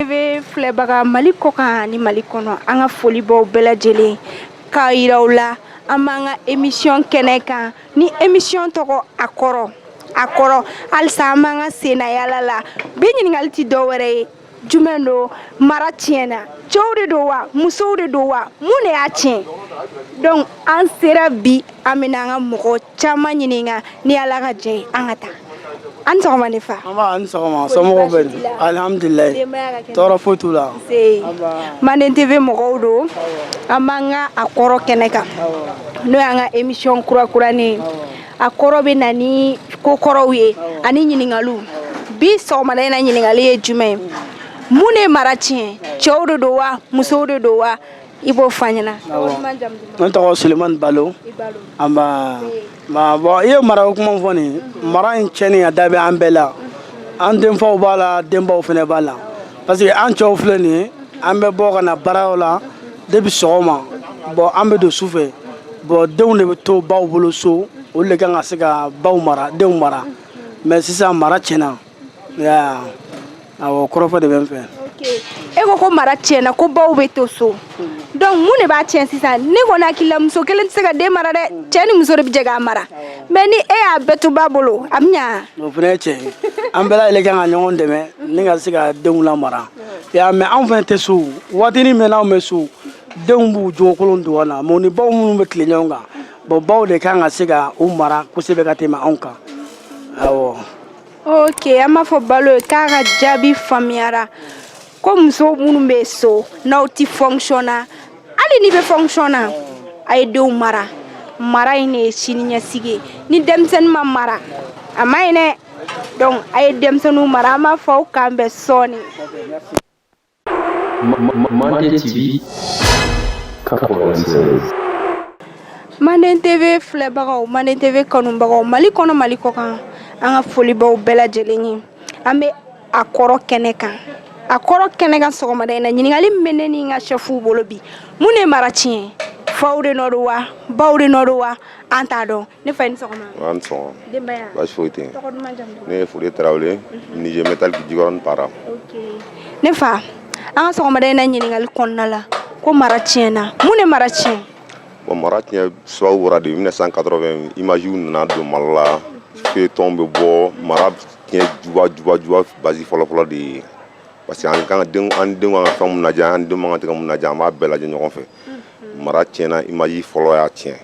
TV filɛbaga Mali kɔ kan ani Mali kɔnɔ an ka foli b'aw bɛɛ lajɛlen k'a yira aw la an b'an ka émission kɛnɛ kan ni émission tɔgɔ a kɔrɔ a kɔrɔ halisa an b'an ka sennayaala la bi ɲininkali tɛ dɔ wɛrɛ ye jumɛn don mara tiɲɛna cɛw de don wa musow de don wa mun de y'a tiɲɛ donc an sera bi an bɛna an ka mɔgɔ caman ɲininka ni ala ka jɛ ye an ka taa an sɔgɔma ne fa an sɔgɔma somɔgɔw bɛ di alihamdulilayi tɔɔrɔ foyi t'u la c'est manden tv mɔgɔw don an b'an ka a kɔrɔ kɛnɛ kan n'o y'an ka emisiyɔn kurakuranin a kɔrɔ bɛ na ni ko kɔrɔw ye ani ɲininkaliw bi sɔgɔmada in na ɲininkali ye jumɛn ye mun de ye mara tiɲɛ cɛw de don wa musow de don wa i b'o fɔ an ɲɛna ne tɔgɔ sulemani balo nba bon i ye mara o kuma fɔ nin mara in tiɲɛni a da bɛ an bɛɛ la an denfaw b'a la denbaw fana b'a la parce que an cɛw filɛ nin ye an bɛ bɔ ka na baaraw la depuis sɔgɔma bon an bɛ don su fɛ bon denw de bɛ to baw bolo so olu de kan ka se ka baw mara denw mara mais sisan mara tiɲɛna Awɔ kɔrɔfɔ de bɛ n fɛ. E ko ko mara tiɲɛna ko baw bɛ to so donc mun de b'a tiɲɛ sisan ne kɔni hakili la muso kelen tɛ se ka den mara dɛ cɛ ni muso de bɛ jɛ k'a mara mais ni e y'a bɛɛ to ba bolo a bɛ ɲa o fana ye tiɲɛ ye an bɛɛ lajɛlen kan ka ɲɔgɔn dɛmɛ ni ka se ka denw lamara y'a mɛn anw fana tɛ so waatinin min anw bɛ so denw b'u jogokolon dogo an na mais u ni baw minnu bɛ tile ɲɔgɔn kan bon baw de kan ka se ka u mara kosɛbɛ ka tɛmɛ anw kan awɔ ok an b'a fɔ balo ye k'a ka jaabi faamuyara ko muso minnu bɛ so n'aw tɛ fonction na hali n'i bɛ fonction na a ye denw mara mara in de ye siniɲɛsigi ye ni denmisɛnnin ma mara a man ɲi dɛ donc a ye denmisɛnninw mara an b'a fɔ aw k'an bɛn sɔɔni Manden TV manden tv filɛbagaw manden tv kanubagaw mali kɔnɔ mali kɔ kan an ka foli b'aw bɛɛ lajɛlen ye an bɛ a kɔrɔ kɛnɛ kan a kɔrɔ kɛnɛ kan sɔgɔmada in na ɲininkali bɛ ne ni n ka shɛfuw bolo bi mun de mara tiɲɛ faw de nɔ don wa baw de nɔ don wa an t'a dɔn ne fa i ni sɔgɔma nba i ni sɔgɔma denbaya baasi foyi tɛ tɔgɔ duman jamu duman ne ye fode tarawele mhm. menuisier métallique jikɔrɔni para ne fa an ka sɔgɔmada in na ɲininkali kɔnɔna la ko mara tiɲɛna mun ne mara tiɲɛ bon mara tiɲɛ sababu bɔra de 1980 imagew nana don mali la feuilleton bɛ bɔ mara tiɲɛ juba juba juba base fɔlɔfɔlɔ de ye parce que an kan ka an denw ka kan ka mun lajɛ an denw man kan ka mun lajɛ an b'a bɛɛ lajɛ ɲɔgɔn fɛ mara tiɲɛna imaji fɔlɔ y'a tiɲɛ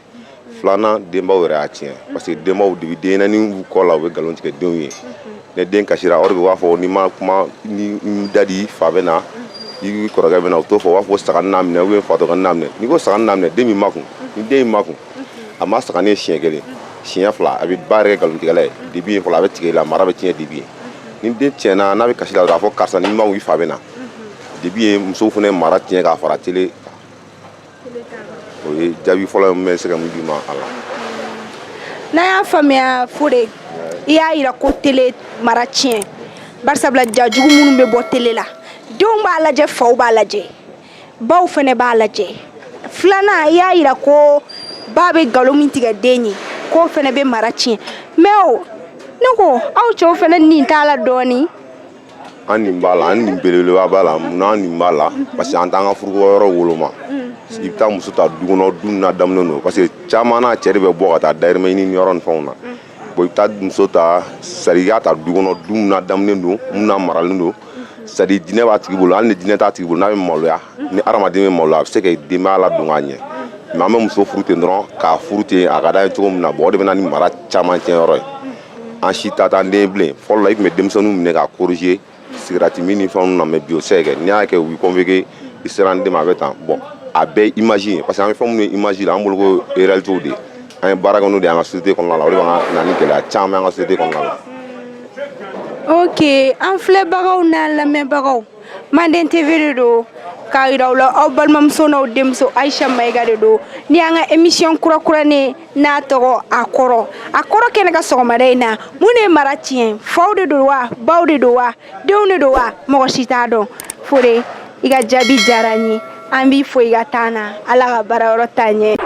filanan denbaw yɛrɛ y'a tiɲɛ parce que denbaw de bɛ denɲɛnɛni kɔ la u bɛ nkalon tigɛ denw ye ni den kasira o de b'a fɔ n'i ma kuma ni da de i fa bɛ na i kɔrɔkɛ bɛ na u t'o fɔ u b'a fɔ saga n'a minɛ u b'a fɔ dɔgɔnin n'a minɛ n'i ko saga n'a minɛ den b'i makun ni den y'i makun a ma saga ye siɲɛ kelen siɲɛ fila a bɛ ba yɛrɛ kɛ nkalontigɛla ye depuis yen fɔlɔ a bɛ tigɛ i la mara bɛ tiɲɛ depuis yen ni den tiɲɛna n'a bɛ kasi la dɔrɔn a fɔ karisa n'i ma i fa bɛ na depuis yen musow fana mara tiɲɛ k'a fara tele o ye jaabi fɔlɔ ne bɛ se ka min d'i ma a la n'an y'a faamuya fore i y'a jira ko tele mara tiɲɛ bari sabula ja jugu minnu bɛ bɔ tele la denw b'a lajɛ faw b'a lajɛ baw fana b'a lajɛ filanan i y'a jira ko ba bɛ nkalon min tigɛ den ye k'o fana bɛ mara tiɲɛ mɛ o ne ko aw cɛw fana nin t'a la dɔɔnin an nin b'a la an nin belebeleba b'a la mun an nin b'a la parce que an t'an ka furukɛyɔrɔ woloma i bɛ taa muso ta du kɔnɔ du ladamunen don parce que caman na cɛ de bɛ bɔ ka taa dayirimɛ ɲini yɔrɔ ni fɛnw na bon i bɛ taa muso ta sani i k'a ta du kɔnɔ du ladamunen don mun na maralen don c'est-à-dire diinɛ b'a tigi bolo hali ni diinɛ t'a tigi bolo n'a bɛ maloya ni adamaden bɛ maloya a bɛ se ka denbaya ladon k'a ɲɛ mɛ an bɛ muso furu ten dɔrɔn k'a furu ten a ka d'an ye cogo min na bon o de bɛ na ni mara caman tiɲɛ yɔrɔ ye an si ta t'an den bilen fɔlɔ la i tun bɛ denmisɛnninw minɛ ka corriger sigarɛti min ni fɛnw na mɛ bi o tɛ kɛ n'i y'a kɛ u b'i convoquer i sera an den ma a bɛ ten bɔn a bɛɛ image ye parce que an bɛ fɛn minnu ye image la an bolo ko réalités de an bɛ baara kɛ n'o de ye an ka société kɔnɔna la o de bɛ ka na ni gɛlɛya caman an ka société kɔnɔna la ok an filɛbagaw n'an lamɛnbagaw manden tv de don k'a yira aw la aw balimamuso n'aw denmuso ayisa mayiga de don nin y'an ka emisiyɔn kurakuranin n'a tɔgɔ a kɔrɔ a kɔrɔ kɛnɛ kan sɔgɔmada in na mun de ye mara tiɲɛ faw de don wa baw de don wa denw de don wa mɔgɔ si t'a dɔn fore i ka jaabi diyara n ye an b'i fo i ka temps na ala ka baara yɔrɔ taa ɲɛ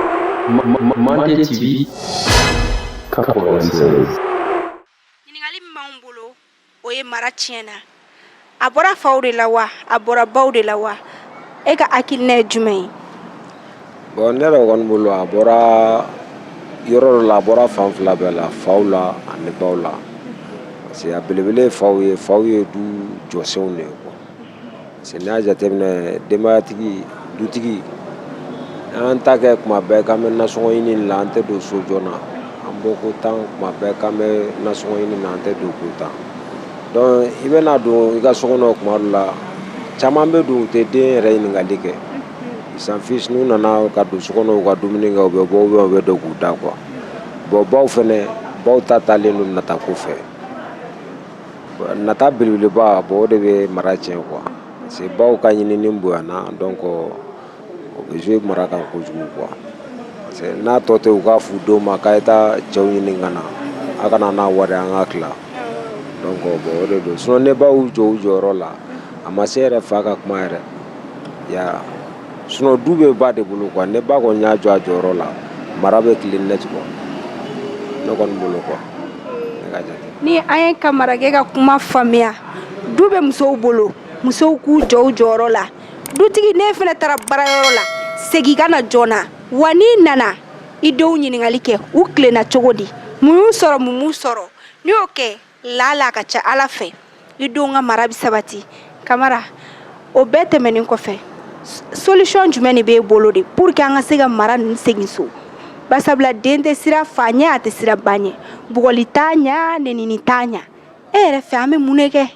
ɲuman bolo o ye mara tiɲɛ na a bɔra faw de la wa a bɔra baw de la wa e ka hakilina ye jumɛn ye bɔn ne kɔni bolo a bɔra yɔrɔ dɔ la a bɔra fan fila bɛɛ la faw la ani baw la parce a belebele ye faw ye faw ye du jɔsenw de ye si n'i y'a jateminɛ denbayatigi dutigi an ta kɛ kuma bɛɛ k'an bɛ nasɔn ɲini la an tɛ don so joona na an bɔ ko tan kuma bɛɛ k'an bɛ nasɔn ɲini na an tɛ don ko tan dɔn i bɛna don i ka so kɔnɔ kuma dɔ la caman bɛ don u tɛ den yɛrɛ ɲininkali kɛ ça suffit n'u nana ka don so kɔnɔ ka dumuni kɛ u bɛ bɔ u bɛ don k'u da quoi bɔn baw fana baw ta taalen don nata ko fɛ nata belebeleba bon o de bɛ mara tiɲɛ quoi parce que baw ka ɲinini bonyana donc o bɛ jouer mara kan kojugu quoi parce que n'a tɔ tɛ u k'a f'u denw ma k'a ye taa cɛw ɲini ka na a ka na n'a wari an k'a tila donc bon o de don sinon ni baw jɔ u jɔyɔrɔ la a ma se yɛrɛ fa ka kuma yɛrɛ ya sinon du bɛ ba de bolo quoi ni ba kɔni y'i jɔ a jɔyɔrɔ la mara bɛ tilen en tout cas ne kɔni bolo quoi ni an ye kamarakɛ ka kuma faamuya du bɛ musow bolo musow k'u jɔ u jɔyɔrɔ la dutigi n'e fana taara baarayɔrɔ la segin ka na joona wa n'i nana i denw ɲininkali kɛ u tilenna cogo di mun y'u sɔrɔ mun m'u sɔrɔ n'i y'o kɛ lala a ka ca ala fɛ i denw ka mara bɛ sabati kamara o bɛɛ tɛmɛnen kɔfɛ solution jumɛn de b'e bolo de pour que an ka se ka mara ninnu segin so basabula den tɛ siran fa ɲɛ a tɛ siran ba ɲɛ bugɔli t'a ɲɛ nenini t'a ɲɛ e yɛrɛ fɛ an bɛ mun de kɛ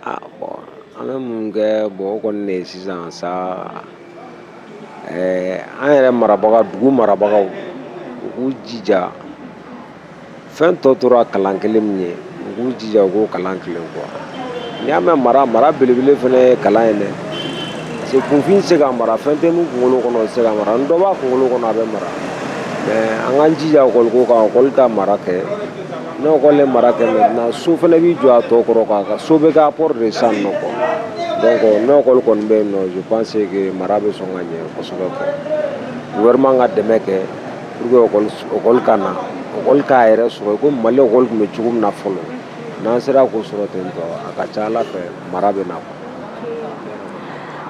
Ah, an bɛ mun kɛ bon o kɔni de ye sisan sa eh, an yɛrɛ marabaga dugu marabagaw u k'u jija fɛn tɔ tora kalan kelen min ye u k'u jija u k'o kalan tilen quoi n'i y'a mɛn mara mara belebele fana ye kalan ye dɛ parce que kunfin tɛ se ka mara fɛn tɛ min kunkolo kɔnɔ tɛ se ka mara ni dɔ b'a kunkolo kɔnɔ a bɛ mara mɛ an k'an jija ekɔli ko kan ekɔli ka mara kɛ N'ekɔli ye mara kɛ min na so fana b'i jɔ a tɔ kɔrɔ kosɛbɛ k'a kɔrɔta san na quoi donc n'ekɔli kɔni bɛ yen je pense que mara bɛ sɔn ka ɲɛ kosɛbɛ gouvernement ka dɛmɛ kɛ pour que ekɔli ka na ekɔli k'a yɛrɛ sɔrɔ i ko mali ekɔli tun bɛ cogo min na fɔlɔ n'an sera k'o sɔrɔ ten a ka ca ala fɛ mara bɛ na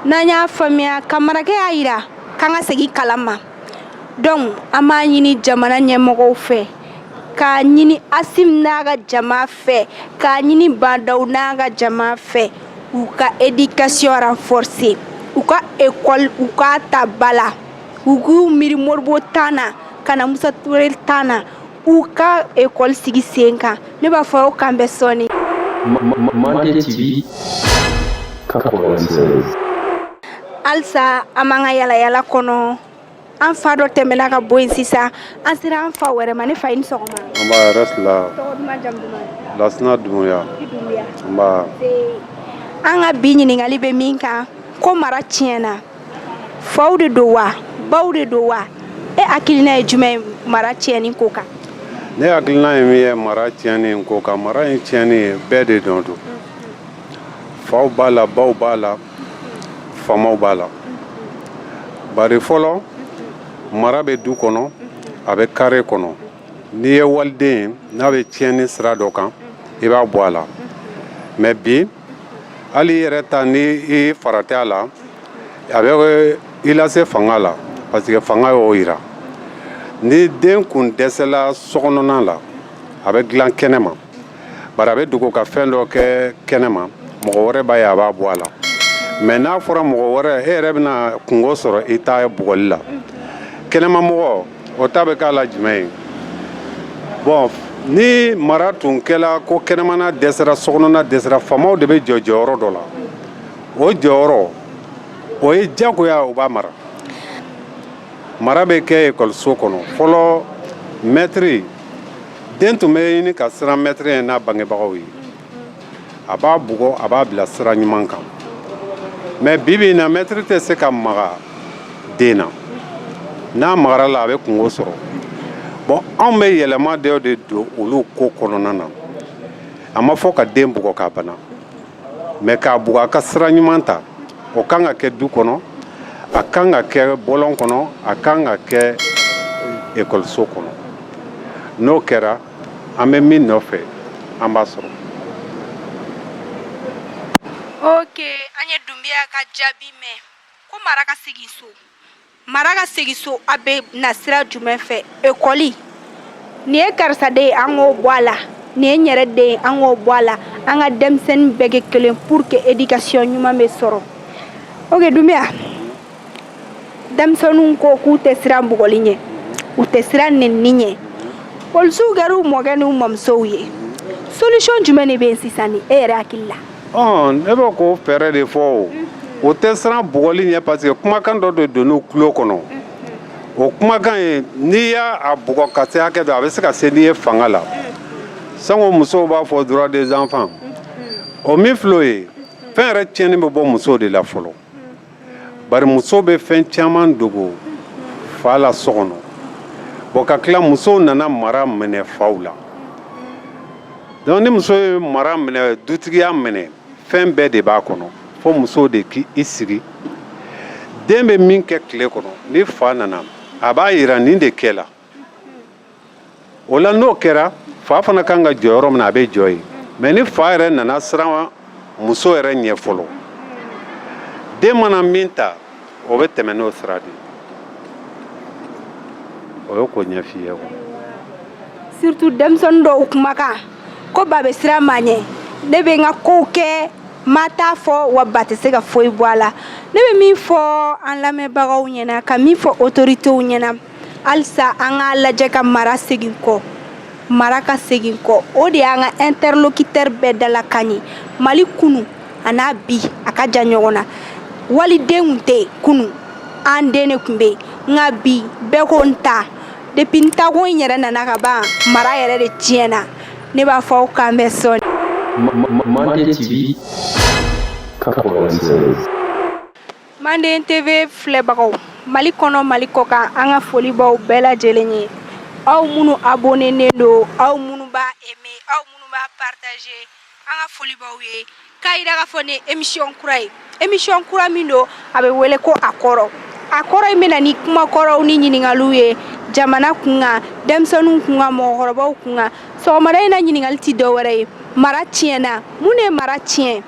n'an y'a faamuya kamarakɛ y'a jira k'an ka segin kalan ma donc an b'a ɲini jamana ɲɛmɔgɔw fɛ k'a ɲini asimi n'a ka jama fɛ k'a ɲini ba ndaw n'a ka jama fɛ u ka éducation renforcer u ka ekɔli u k'a ta ba la u k'u miiri modibo temps na ka na musa traore temps na u ka ekɔli sigi sen kan ne b'a fɔ aw k'an bɛn sɔɔni halisa an b'an ka yalayala kɔnɔ an fa dɔ tɛmɛna ka bɔ yen sisan an sera an fa wɛrɛ ma ne fa i ni sɔgɔma nba hɛrɛ sira lasina dumbuya an ka bi ɲininkali bɛ min kan ko mara tiɲɛna faw de don wa baw de don wa e hakilina ye jumɛn ye mara tiɲɛni ko kan ne hakilina ye min ye mara tiɲɛni ko kan mara nin tiɲɛni ye bɛɛ de dɔn don faw b'a la baw b'a la faamaw b'a la bari fɔlɔ mara bɛ du kɔnɔ a bɛ kare kɔnɔ n'i ye waliden ye n'a bɛ tiɲɛni sira dɔ kan i b'a bɔ a la mɛ bi hali i yɛrɛ ta ni i farati a la a bɛ i lase fanga la parce que fanga y'o jira ni den kun dɛsɛla sokɔnɔna la a bɛ dilan kɛnɛ ma bari a bɛ dogo ka fɛn dɔ kɛ kɛnɛ ma mɔgɔ wɛrɛ b'a ye a b'a bɔ a la mɛ n'a fɔra mɔgɔ wɛrɛ e yɛrɛ bɛna kunko sɔrɔ i ta bugɔli la kɛnɛmamɔgɔ o ta bɛ k'a la jumɛn ye bɔn ni mara tun kɛra ko kɛnɛmana dɛsɛra sokɔnɔna dɛsɛra faamaw de bɛ jɔ jɔyɔrɔ dɔ la o jɔyɔrɔ o ye jagoya o b'a mara mara bɛ kɛ ekɔliso kɔnɔ fɔlɔ mɛtiri den tun bɛ ɲini ka siran mɛtiri ɲɛ n'a bangebagaw ye a b'a bugɔ a b'a bila sira ɲuman kan mɛ bibi in na mɛtiri tɛ se ka maga den na n'a magara a la a bɛ kunko sɔrɔ bɔn anw bɛ yɛlɛma dɔw de don olu ko kɔnɔna na a ma fɔ ka den bugɔ k'a bana mɛ k'a bugɔ a ka sira ɲuman ta o kan ka kɛ du kɔnɔ a kan ka kɛ bɔlɔn kɔnɔ a kan ka kɛ ekɔliso kɔnɔ n'o kɛra an bɛ min nɔfɛ an b'a sɔrɔ ok an ye dunbiya ka jaabi mɛn ko mara ka segin so mara ka segin so a bɛ na sira jumɛn fɛ ekɔli nin ye karisa den ye an k'o bɔ a la nin ye n yɛrɛ den ye an k'o bɔ a la an ka denmisɛnnin bɛɛ kɛ kelen pour que éducation ɲuman bɛ sɔrɔ ok dunbiya denmisɛnninw ko k'u tɛ siran bugɔli ɲɛ u tɛ siran nenni ɲɛ polisiw kɛra u mɔkɛ n'u mamusow ye solution jumɛn de bɛ yen sisan ni e yɛrɛ hakili la ne bɛ k'o fɛɛrɛ de fɔ u tɛ siran bugɔli ɲɛ parce que kumakan dɔ de donn'u tulo kɔnɔ o kumakan ye n'i y'a a bugɔ ka se hakɛ dɔ a bɛ se ka se n'i ye fanga la sango musow b'a fɔ droit des enfants o min filɛ o ye fɛn yɛrɛ tiɲɛni bɛ bɔ musow de la fɔlɔ bari muso bɛ fɛn caman dogo fa la so kɔnɔ bɔn ka tila musow nana mara minɛ faw la dɔnku ni muso ye mara minɛ dutigiya minɛ fɛn bɛɛ de b'a kɔnɔ fo musow de k' i sigi den bɛ min kɛ tile kɔnɔ ni fa nana a b'a jira nin de kɛla o la n'o kɛra fa fana kan ka jɔ yɔrɔ min na a bɛ jɔ yen mais ni fa yɛrɛ nana siran muso yɛrɛ ɲɛ fɔlɔ den mana min ta o bɛ tɛmɛ n'o sira de o ye ko ɲɛf'i ye quoi surtout denmisɛnnin dɔw kumakan ko ba bɛ siran ma ɲɛ ne bɛ n ka kow kɛ ma t'a fɔ wa ba tɛ se ka foyi bɔ a la ne bɛ min fɔ an lamɛnbagaw ɲɛna ka min fɔ autorités ɲɛna halisa an k'a lajɛ ka mara segin kɔ mara ka segin kɔ o de y'an ka interlocuteur bɛɛ dalakan ye mali kunu an'a bi a ka jan ɲɔgɔn na waliden kun tɛ kunu an den de kun bɛ nka bi bɛɛ ko n ta depuis n ta ko in yɛrɛ nana ka ban mara yɛrɛ de tiɲɛna ne b'a fɔ aw k'an bɛn sɔɔni Mande TV 96. manden TV filɛbagaw mali kɔnɔ mali kɔkan an ka foli b'aw bɛɛ lajɛlen ye aw minnu abonnélen don aw minnu b'a aimer aw minnu b'a partager an ka foli b'aw ye k'a jira k'a fɔ nin émission kura ye émission kura min don a bɛ wele ko a kɔrɔ a kɔrɔ in bɛ na ni kumakɔrɔw ni ɲininkaliw ye jamana kunkan denmisɛnninw kunkan mɔgɔkɔrɔbaw kunkan sɔgɔmada in na ɲininkakali tɛ dɔ wɛrɛ ye mara tiɲɛna mun de ye mara tiɲɛ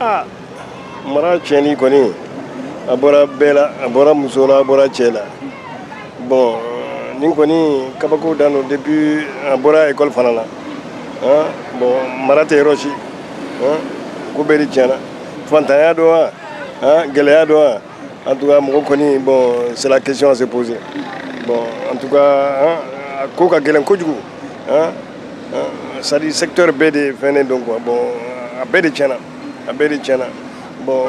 aa mara tiɲɛni kɔni a bɔra bɛɛ la a bɔra muso la a bɔra cɛ la bon nin kɔni kabako dan don depuis a bɔra école fana la hein? bon mara tɛ yɔrɔ si hein? ko bɛɛ de tiɲɛna fantanya don wa hein? gɛlɛya don wa En tout cas mɔgɔ kɔni bon c'est la question à se poser bon en tout cas a ko ka gɛlɛn kojugu hein c'est à dire secteur bɛɛ de fɛnnen don quoi bon a bɛɛ de tiɲɛna a bɛɛ de tiɲɛna bon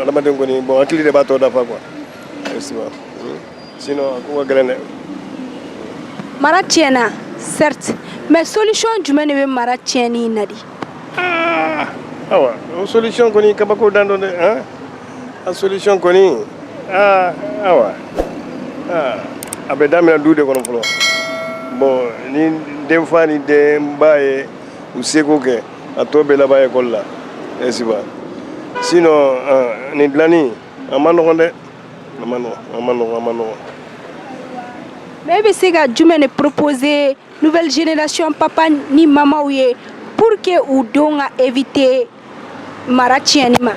adamaden kɔni bon hakili de b'a tɔ dafa quoi sinon a ko ka gɛlɛn dɛ mara tiɲɛna certes mais solution jumɛn de bɛ mara tiɲɛni in na de ah, awa o solution kɔni kabako dan don dɛ hein? a solution kɔni ah, awa ah, a bɛ daminɛ du de kɔnɔ fɔlɔ bon ni denfa ni denba ye u seko kɛ a tɔ bɛ laban école la n'est-ce pas sinon nin dilanni a ma nɔgɔn dɛ a ma nɔgɔ a ma nɔgɔ a ma nɔgɔ mais e bɛ se ka jumɛn de proposer nouvelle génération papa ni mamaw ye pour que u denw ka éviter mara tiɲɛni ma à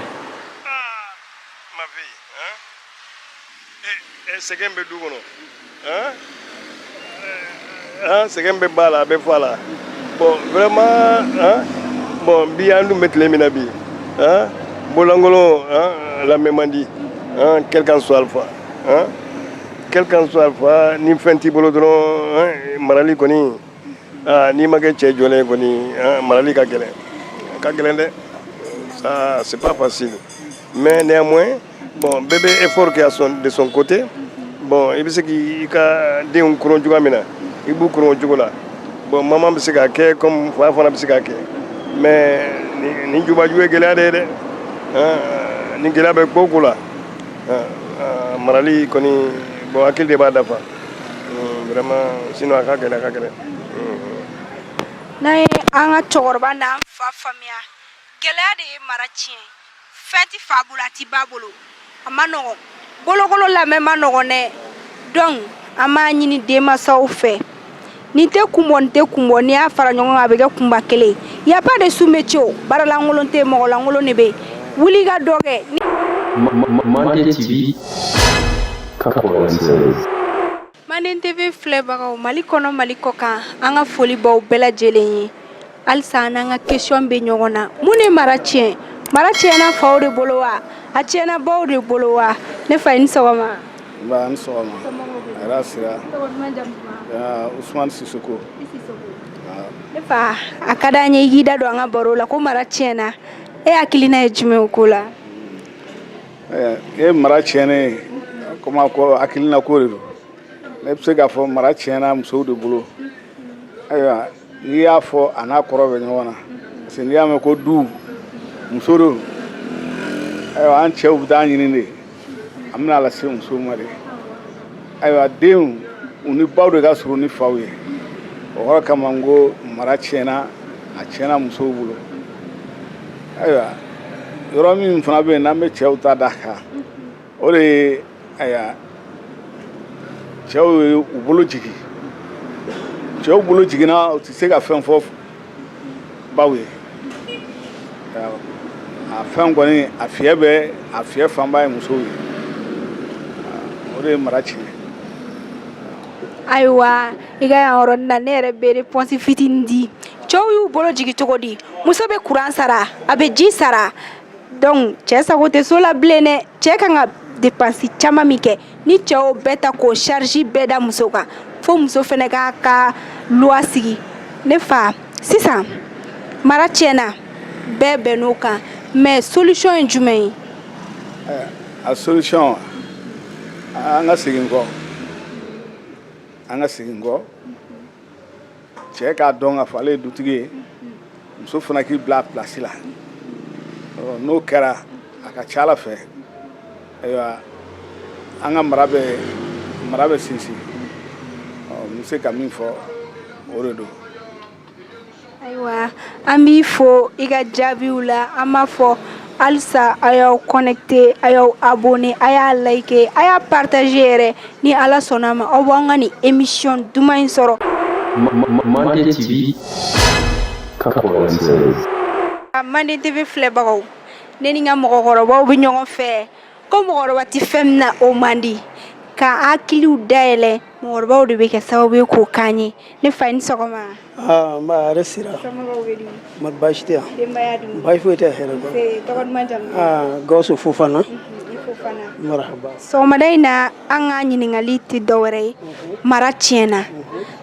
mon avis hein? e, e sɛgɛn bɛ du kɔnɔ sɛgɛn bɛ ba la a bɛ fa la bon vraiment bon bi an dun bɛ tile min na bi bololankolon lamɛn man di quel qu'en soit l'enfant quel qu'en soit l'enfant ni fɛn t'i bolo dɔrɔn marali kɔni n'i ma kɛ cɛ jɔlen kɔni marali ka gɛlɛn a ka gɛlɛn dɛ c'est pas facile mais néanmoins bon bɛɛ bɛ effort kɛ son de son côté bon i bɛ se k'i ka denw koron cogoya min na i b'u koron o cogo la bon maman bɛ se k'a kɛ comme fa fana bɛ se k'a kɛ mais nin jubaju ye gɛlɛya de ye dɛ ni gɛlɛya bɛ ko o ko la marali kɔni bon hakili de b'a dafa vraiment sinon a ka gɛlɛn a ka gɛlɛn n'an ye an ka cɛkɔrɔba n'an fa faamuya gɛlɛya de ye mara tiɲɛ fɛn tɛ fa bolo a tɛ ba bolo a man nɔgɔn bolokolon lamɛn man nɔgɔn dɛ donc an b'a ɲini denmansaw fɛ nin tɛ kun bɔ nin tɛ kun bɔ n'i y'a fara ɲɔgɔn kan a bɛ kɛ kunba kelen ye y a pas de sous métier baaralankolon tɛ mɔgɔlankolon de bɛ yen wuli ka dɔ kɛ. Mande TV 96. Mande TV filɛbagaw mali kɔnɔ mali kɔ kan an ka foli b'aw bɛɛ lajɛlen ye halisa an n'an ka kesɔn bɛ ɲɔgɔn na mun ye mara tiɲɛ mara tiɲɛna faw de bolo wa a tiɲɛna baw de bolo wa ne fa i ni sɔgɔma ne fa a ka di an ye i da don an ka baro la ko mara tiɲɛna e hakilina ye jumɛn o ko la e mara tiɲɛnen komi a ko hakilina ko de don ne bɛ se k'a fɔ mara tiɲɛna musow de bolo ayiwa n'i y'a fɔ a n'a kɔrɔ bɛ ɲɔgɔn na parce que n'i y'a mɛn ko du muso don ayiwa an cɛw bɛ taa ɲini de an bɛn'a lase musow ma de ayiwa denw u ni baw de ka surun ni faw ye o yɔrɔ kama n ko mara tiɲɛna a tiɲɛna musow bolo ayiwa yɔrɔ min fana bɛ yen n'an bɛ cɛw ta d'a kan o de ye ayiwa cɛw ye u bolo jigin cɛw bolo jiginna u tɛ se ka fɛn fɔ baw ye a fɛn kɔni a fiyɛ bɛ a fiyɛ fanba ye musow ye o de ye mara tiɲɛ ayiwa i ka yan yɔrɔ na ne yɛrɛ bɛ pɔnsi fitinin di cɛw y'u bolo jigin cogo di muso bɛ kuran sara a bɛ ji sara donc cɛ sago tɛ so la bilen dɛ cɛ kan ka depansi caman min kɛ ni cɛ o bɛɛ ta k'o charge bɛɛ da muso kan fo muso fana k'a ka loi sigi ne fa sisan mara tiɲɛna bɛɛ bɛnn'o kan mais solution ye jumɛn ye eh, a solution an ka segin kɔ an ka segin kɔ cɛ k'a dɔn k'a fɔ ale ye dutigi ye muso fana k'i bila a pilasi la n'o kɛra a ka ca ala fɛ ayiwa an ka mara bɛ mara bɛ sinsin n bɛ se ka min fɔ o de don Ayiwa an b'i fo i ka jaabiw la an b'a fɔ halisa a y'aw connecter a y'aw abonner a y'a liker a y'a partager yɛrɛ ni ala sɔnna a ma aw b'an ka nin émission duman in sɔrɔ manden TV filɛbagaw ne ni n ka mɔgɔkɔrɔba bɛ ɲɔgɔn fɛ ko mɔgɔkɔrɔba tɛ fɛn min na o man di ka hakiliw dayɛlɛ mɔgɔkɔrɔbaw de bɛ kɛ sababu ye k'o k'an ye ne fa i ni sɔgɔma aa nba hɛrɛ sira somɔgɔw bɛ di ma baasi tɛ yan denbaya dun baasi foyi tɛ hɛrɛ dɔrɔn Ee, tɔgɔ duman jamu duman? aa gawusu fofana I fofana. marahaba sɔgɔmada in na an ka ɲininkali tɛ dɔwɛrɛ ye mara tiɲɛna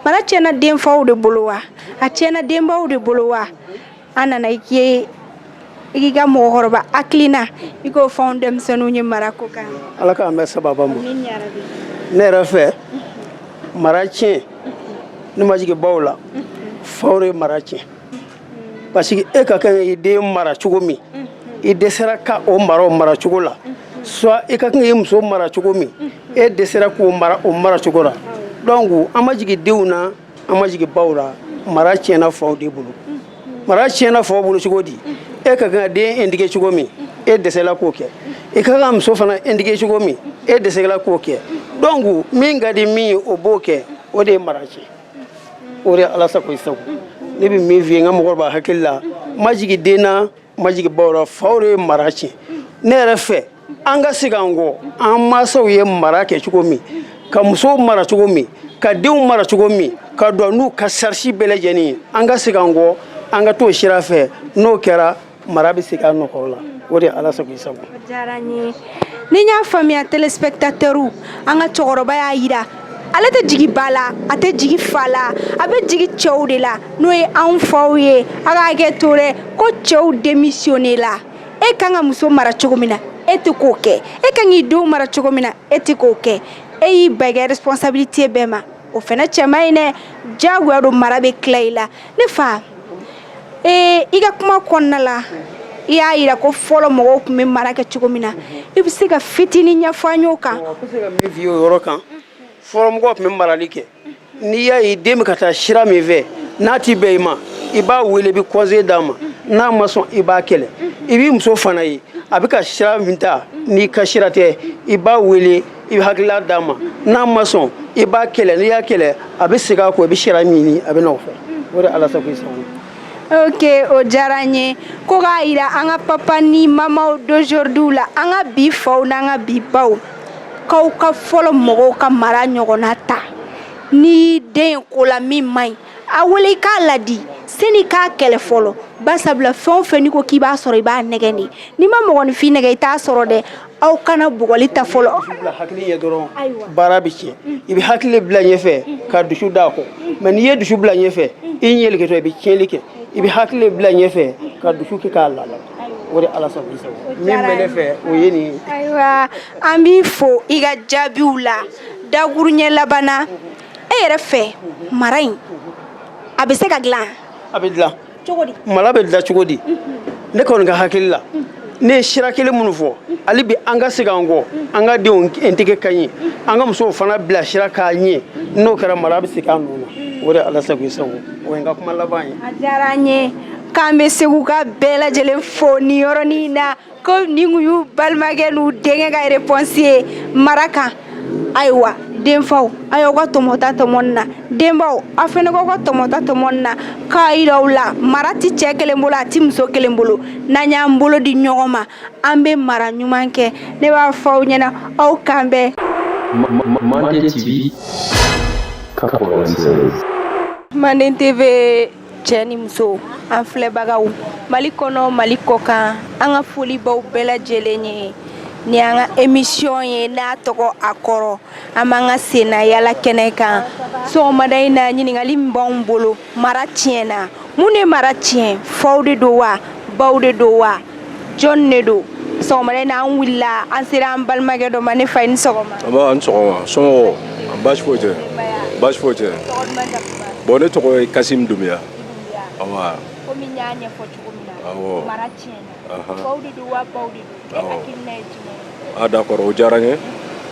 mara tiɲɛna denfaw de bolo wa a tiɲɛna denbaw de bolo wa an nana i k'i i ka mɔgɔkɔrɔba hakilina i k'o fɔ anw denmisɛnninw ye mara ko kan ala k'an bɛn sababu ma ne yɛrɛ fɛ mara tiɲɛ ne ma jigin baw la faw de ye mara tiɲɛ parce que e ka kan i den mara cogo min i dɛsɛra ka o mara o mara cogo la soit i ka kan i muso mara cogo min e dɛsɛra k'o mara o mara cogo la donc an ma jigin denw na an ma jigin baw la mara tiɲɛna faw de bolo mara tiɲɛna faw bolo cogo di e ka kan den éduquer cogo min e dɛsɛla k'o kɛ i ka kan muso fana éduquer cogo min e dɛsɛla k'o kɛ donc min ka di min ye o b'o kɛ o de ye mara tiɲɛ o de ye ala sago i sago ne bɛ min f'i ye n ka mɔgɔkɔrɔba hakili la n ma jigin den na ma jigi baw ra faw de ye mara tiɲɛ ne yɛrɛ fɛ an ka segin an kɔ an mansaw ye mara kɛ cogo min ka musow mara cogo min ka denw mara cogo min ka jɔ n'u ka charge bɛɛ lajɛlen an ka segin an kɔ an ka t'o sira fɛ n'o kɛra mara bɛ segin a nɔ kɔrɔ la o de ye ala sago i sago ni n y'a faamuya téléspectateurs an ka cɛkɔrɔba y'a jira ale tɛ jigi ba la a tɛ jigi fa la a bɛ jigi cɛw de la n'o ye anw faw ye a k'a kɛ to dɛ ko cɛw démissionner la e kan ka muso mara cogo min na e tɛ k'o kɛ e kan k'i denw mara cogo min na e tɛ k'o kɛ e y'i ban i ka responsabilité bɛɛ ma o fana cɛ man ɲi dɛ diyagoya don mara bɛ tila i la ne fa ee i ka kuma kɔnɔna la i y'a yira ko fɔlɔ mɔgɔw tun bɛ mara kɛ cogo min na i bɛ se ka fitini ɲɛfɔ an y'o kan yɔrɔ kan fɔlɔ mɔgɔw tun bɛ marali kɛ n'i y'a ye den bɛ ka taa sira min fɛ n'a tɛ bɛn i ma i b'a wele i bɛ conseil d'a ma n'a ma sɔn i b'a kɛlɛ i b'i muso fana ye a bɛ ka sira min ta n'i ka sira tɛ i b'a wele i bɛ hakilila d'a ma n'a ma sɔn i b'a kɛlɛ n'i y'a kɛlɛ a bɛ segin a kɔ i bɛ sira min ɲini a bɛ n'o fɛ o de ala sago i sago ok o diyara n ye ko k'a yira an ka papa ni mamaw d'aujourd'hui la an ka bi faw n'an ka bi baw k'aw ka fɔlɔ mɔgɔw ka mara ɲɔgɔnna ta ni den ye ko la min man ɲi a wele i k'a ladi sani k'a kɛlɛ fɔlɔ basabula fɛn o fɛn n'i ko k'i b'a sɔrɔ i b'a nɛgɛn de n'i ma mɔgɔninfin nɛgɛn i t'a sɔrɔ dɛ aw kana bugɔli ta fɔlɔ bila hakili ɲɛ dɔrɔn baara bɛ tiɲɛ i bɛ hakili le bila ɲɛfɛ ka dusu da a kɔ mɛ n'i ye dusu bila ɲɛfɛ i ɲɛlikɛtɔ i bɛ tiɲɛli kɛ i bɛ hakili le bila ɲɛfɛ ka dusu kɛ k'a lala o de ala sɔn bisa min bɛ ne fɛ o ye nin ye ayiwa an b'i fo i ka jaabiw la dakurunɲɛ laban na e yɛrɛ fɛ mara in a bɛ se ka dilan a bɛ dilan mara bɛ dilan cogo di ne kɔni ka hakili la ne ye sira kelen minnu fɔ hali bi an ka segin an kɔ an ka denw éduquer k'a ɲɛ an ka musow fana bila sira k'a ɲɛ n'o kɛra mara bɛ segin a nɔ na o de ala sago i sago o ye n ka kuma laban ye a diyara an ye k'an bɛ seguka bɛɛ lajɛlen fo nin yɔrɔnin na ko nin tun y'u balimakɛ n'u denkɛ ka réponse ye mara kan ayiwa denfaw a y'aw ka tɔmɔ ta tɔmɔ nin na denbaw aw fana k'aw ka tɔmɔ ta tɔmɔ nin na k'a yira u la mara tɛ cɛ kelen bolo a tɛ muso kelen bolo n'an y'an bolo di ɲɔgɔn ma an bɛ mara ɲuman kɛ ne b'a fɔ aw ɲɛna aw k'an bɛn Manden TV 96. Manden TV cɛ ni muso an filɛbagaw mali kɔnɔ mali kɔkan an ka foli b'aw bɛɛ lajɛlen ye nin an ka emisiyɔn ye n'a tɔgɔ a kɔrɔ an b'an ka sennayaala kɛnɛ kan sɔgɔmada in na ɲininkali min b'anw bolo mara tiɲɛna mun de mara tiɲɛ faw de don wa baw de don wa jɔn de don sɔgɔmada in na an wulila an sera an balimakɛ dɔ ma ne fa i ni sɔgɔma nba i ni sɔgɔma somɔgɔw baasi foyi tɛ baasi foyi tɛ bɔn ne tɔgɔ ye kasim dumbuya awa komi n y'a ɲɛfɔ cogo min na awɔ mara tiɲɛna faw de don wa baw de don e hakilina ye jumɛn ye a ah, d'accord o diyara n ye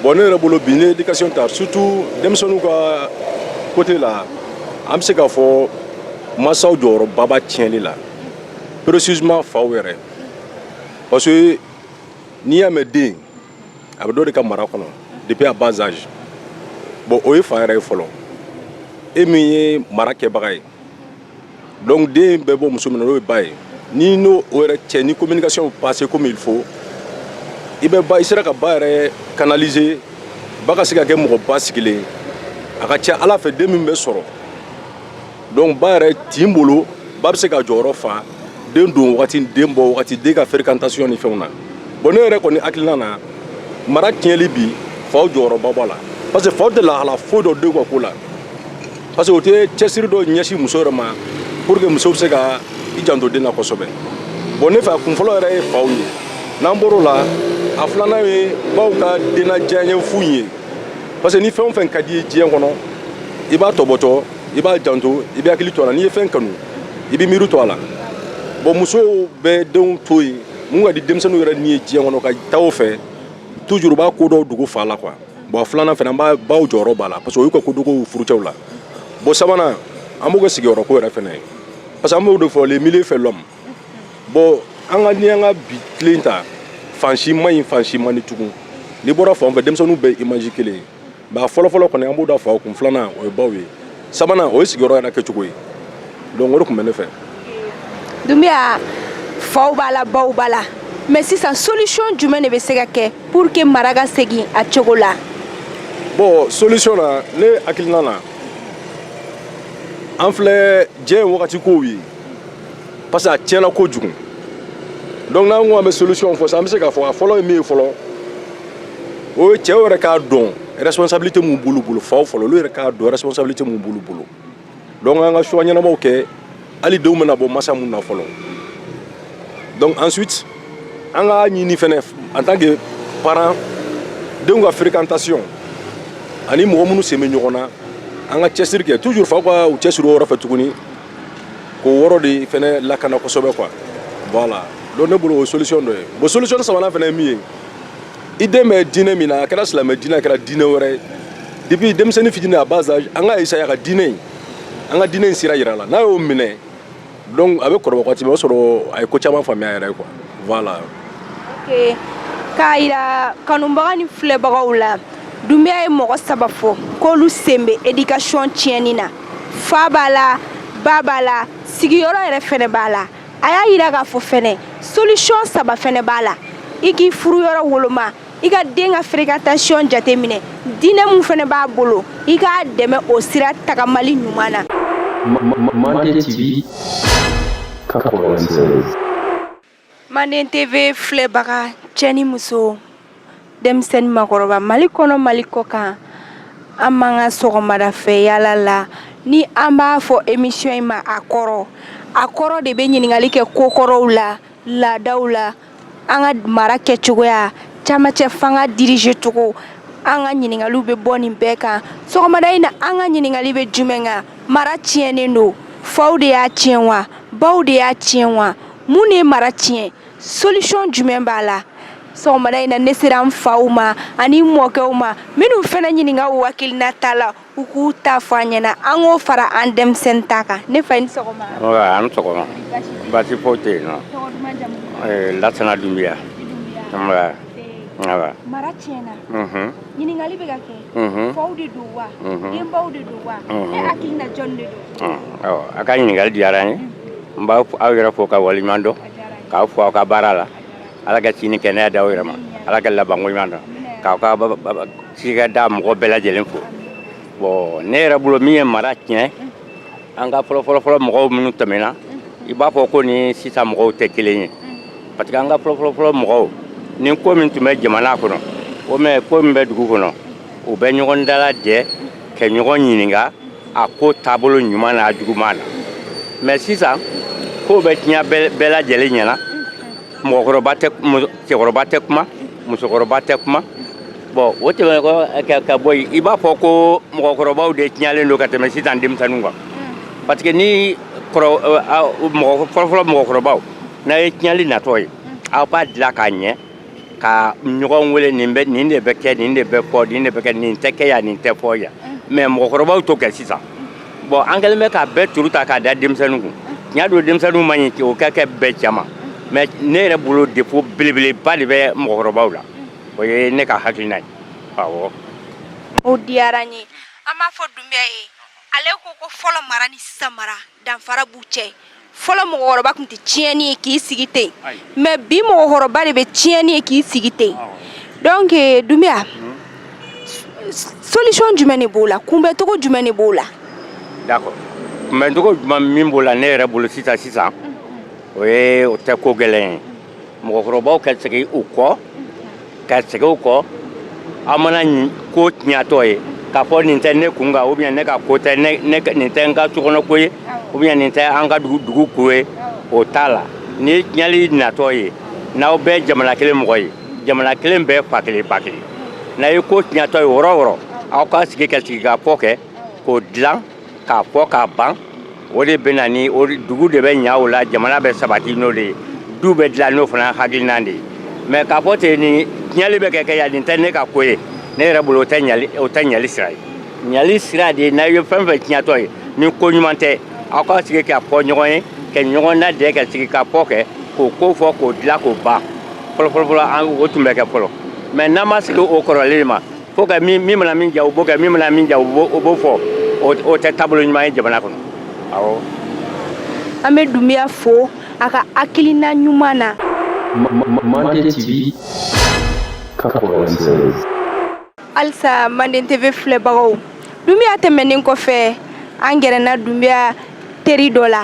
bɔn ne yɛrɛ bolo bi ne éducation ta surtout denmisɛnninw ka côté la an bɛ se k'a fɔ masaw jɔyɔrɔba b'a tiɲɛli la précisément faw yɛrɛ parce que n'i y'a mɛn den a bɛ dɔ de ka mara kɔnɔ depuis à bas âge bon o ye fa yɛrɛ ye fɔlɔ e min ye mara kɛbaga ye donc den bɛ bɔ muso min na n'o ye ba ye n'i n'o yɛrɛ cɛ ni communication passe comme il faut i bɛ ba i sera ka ba yɛrɛ canaliser ba ka se ka kɛ mɔgɔ basigilen a ka ca a la a fɛ den min bɛ sɔrɔ donc ba yɛrɛ tin bolo ba bɛ se ka jɔyɔrɔ fa den don wagati den bɔ wagati den ka fréquentation ni fɛnw na bon ne yɛrɛ kɔni hakilina na mara tiɲɛli bi faw jɔyɔrɔba b'a la parce que faw tɛ lahala foyi dɔn denw ka ko la parce que u tɛ cɛsiri dɔ ɲɛsin muso yɛrɛ ma pour que muso bɛ se ka i janto den na kosɛbɛ bon ne fɛ a kunfɔlɔ yɛrɛ ye faw ye n'an bɔr'o la a filanan ye baw ka denna diyaɲɛ fu ye parce que ni fɛn o fɛn ka d'i ye diɲɛ kɔnɔ i b'a tɔbɔtɔ i b'a janto i bɛ hakili to a la n'i ye fɛn kanu i bɛ miiri to a la bon musow bɛ denw to yen mun ka di denmisɛnninw yɛrɛ ni ye diɲɛ kɔnɔ ka taa o fɛ toujours b'a ko dɔw dogo fa la quoi bon filanan fana b'a baw jɔyɔrɔ b'a la parce que o y'u ka kodogow furucɛw la bon sabanan an b'o kɛ sigiyɔrɔ ko yɛrɛ fana ye parce que an b'o de fɔ le milieu fait l'homme bon an ka ni an ka bi tilen ta fan si man ɲi fan si man di tugun n'i bɔra fan fɛ denmisɛnninw bɛ image kelen ye mais a fɔlɔfɔlɔ kɔni an b'o da faw kun filanan o ye baw ye sabanan o ye sigiyɔrɔ yɛrɛ kɛcogo ye donc o de tun bɛ ne fɛ dumbiya faw b'a la baw b'a la mais sisan solution jumɛn de bɛ se ka kɛ pour que mara ka segin a cogo la bon solution na ne hakilina na an filɛ diɲɛ ye wagati kow ye parce que a tiɲɛna kojugu donc n'an ko an bɛ solution fɔ sisan an bɛ se k'a fɔ a fɔlɔ ye min ye fɔlɔ o ye cɛw yɛrɛ k'a dɔn responsabilité mun b'olu bolo faw fɔlɔ olu yɛrɛ k'a dɔn responsabilité mun b'olu bolo donc an ka choix ɲɛnamaw kɛ hali denw bɛna bɔ masa mun na fɔlɔ donc ensuite an ka ɲini fɛnɛ en tant que parent denw ka fréquentation ani mɔgɔ minnu sen bɛ ɲɔgɔn na an ka cɛsiri kɛ toujours faw ka u cɛsiri o yɔrɔ fɛ tuguni k'o yɔrɔ de fana lakana kosɛbɛ quoi voilà donc ne bolo o solution dɔ ye bon solution sabanan fana ye min ye i den bɛ diinɛ min na a kɛra silamɛ diinɛ a kɛra diinɛ wɛrɛ ye depuis denmisɛnnin fitini a bas âge an ka essayer a ka diinɛ in an ka diinɛ in sira yira a la n'a y'o minɛ donc a bɛ kɔrɔbaya waati min o sɔrɔ a ye ko caman faamuya a yɛrɛ ye quoi voilà. ok k'a yira kanubaga ni filɛbagaw la dunbiya ye mɔgɔ saba fɔ k'olu sen bɛ éducation tiɲɛni na. fa b'a la ba b'a la sigiyɔrɔ yɛrɛ fɛnɛ b'a la a y'a yira k'a fɔ fɛnɛ solution saba fɛnɛ b'a la i k'i furuyɔrɔ woloma i ka den ka fréquentation jateminɛ diinɛ min fɛnɛ b'a bolo i k'a dɛmɛ o sira tagamali ɲuman na Mande TV 96 Mande TV filɛbaga cɛ ni muso denmisɛnnin makɔrɔba mali kɔnɔ mali kɔkan an b'an ka sɔgɔmada fɛ yaala la ni an b'a fɔ émission in ma a kɔrɔ a kɔrɔ de bɛ ɲininkali kɛ kokɔrɔw la laadaw la an ka mara kɛcogoya caman cɛ fanga diriger cogo an ka ɲininkali bɛ bɔ nin bɛɛ kan sɔgɔmada in na an ka ɲininkali bɛ jumɛn kan mara tiɲɛnen don faw de y'a tiɲɛ wa baw de y'a tiɲɛ wa mun ye mara tiɲɛ solution jumɛn b'a la sɔgɔmada in na ne sera n faw ma ani mɔkɛw ma minnu fana ɲininka u hakilinata la u k'u ta fɔ an ɲɛna an k'o fara an denmisɛnnin ta kan ne fa i ni sɔgɔma an ni sɔgɔma baasi foyi tɛ yen nɔ lasana dunbiya mara tiɲɛna ɲininkali bɛ ka kɛ mhm. faw de don wa mhm. denbaw de don wa mhm. e hakili na jɔn de don awɔ a ka ɲininkali diyara n ye n b'aw yɛrɛ fo ka waleɲuman dɔn k'aw fo aw ka baara la ala ka si ni kɛnɛya d'aw yɛrɛ ma ala ka labanko ɲuman dɔn k'aw ka cikɛda mɔgɔ bɛɛ lajɛlen fo bɔn ne yɛrɛ bolo min ye mara tiɲɛ an ka fɔlɔfɔlɔfɔlɔ mɔgɔw minnu tɛmɛna i b'a fɔ k'u ni sisan mɔgɔw tɛ kelen ye parce que an ka fɔlɔfɔlɔfɔlɔ mɔgɔw ni ko min tun bɛ jamana kɔnɔ o mɛ ko min bɛ dugu kɔnɔ u bɛ ɲɔgɔn dalajɛ ka ɲɔgɔn ɲininka a ko taabolo ɲuman n'a juguman na mɛ sisan kow bɛ tiɲɛ bɛɛ lajɛlen ɲɛna mɔgɔkɔrɔba tɛ cɛkɔrɔba tɛ kuma musokɔrɔba tɛ kuma bɔn o tɛmɛn kɔ ka bɔ yen i b'a fɔ ko mɔgɔkɔrɔbaw de tiɲalen don ka tɛmɛ sisan denmisɛnnin kan hmm. parce que ni fɔlɔfɔlɔ mɔgɔkɔrɔbaw n'a ye tiɲɛli natɔ ye hmm. aw b'a dilan k'a ɲɛ ka ɲɔgɔn wele nin bɛ nin de bɛ kɛ nin de bɛ fɔ nin de bɛ kɛ nin tɛ kɛ yan nin tɛ fɔ yan hmm. mɛ mɔgɔkɔrɔbaw t'o kɛ sisan bɔn an kɛlen bɛ k'a bɛɛ turu ta k'a da denmisɛnnin kun tiɲɛ don denmisɛnninw man ɲi o ka kɛ bɛɛ cama mɛ ne yɛrɛ bolo défaut belebeleba de bɛ mɔgɔkɔrɔbaw la o ye ne ka hakilina ye awɔ o diyara n ye an b'a fɔ dunbiya ye ale ko ko fɔlɔ mara ni sisan mara danfara b'u cɛ fɔlɔ mɔgɔkɔrɔba tun tɛ tiɲɛni ye k'i sigi ten mɛ bi mɔgɔkɔrɔba de bɛ tiɲɛni ye k'i sigi ten donc eh, dunbiya solution jumɛn de b'o la kunbɛncogo jumɛn de b'o la d'accord kunbɛncogo jumɛn min b'o la ne yɛrɛ bolo sisan sisan o ye o tɛ ko gɛlɛn ye mɔgɔkɔrɔbaw ka segin u kɔ ka segin u kɔ aw mana ko tiɲɛtɔ ye k'a fɔ nin tɛ ne kun kan ou bien ne ka ko tɛ nin tɛ n ka sokɔnɔ ko ye ou bien nin tɛ an ka dugu dugu ko ye o t'a la ni tiɲɛli natɔ ye n'aw bɛɛ jamana kelen mɔgɔ ye jamana kelen bɛɛ fa kelen ba kelen n'a ye ko tiɲɛtɔ ye yɔrɔ o yɔrɔ aw ka sigi ka sigi ka fɔ kɛ k'o dilan k'a fɔ k'a ban o de bɛ na ni dugu de bɛ ɲa o la jamana bɛ sabati n'o de ye du bɛ dilan n'o fana hakilina de ye mais k'a fɔ ten ni tiɲɛli bɛ ka kɛ yan nin tɛ ne ka ko ye ne yɛrɛ bolo o tɛ ɲali sira ye ɲali sira de ye n'a ye fɛn fɛn tiɲɛtɔ ye ni ko ɲuman tɛ aw ka sigi ka fɔ ɲɔgɔn ye ka ɲɔgɔn lajɛ ka sigi ka fɔ kɛ k'o ko fɔ k'o dilan k'o ban fɔlɔfɔlɔfɔlɔ o tun bɛ kɛ fɔlɔ mais n'an ma segin o kɔrɔlen ma Ko ka min mana min diya o b'o kɛ min mana min diya o b'o o b'o fɔ o t o tɛ taabolo ɲuman ye jamana kɔnɔ awɔ an bɛ Dunbiya fo a ka hakilina ɲuman na Manden TV 96 halisa Manden TV filɛbagaw Dunbiya tɛmɛnen kɔfɛ an gɛrɛna Dunbiya teri dɔ la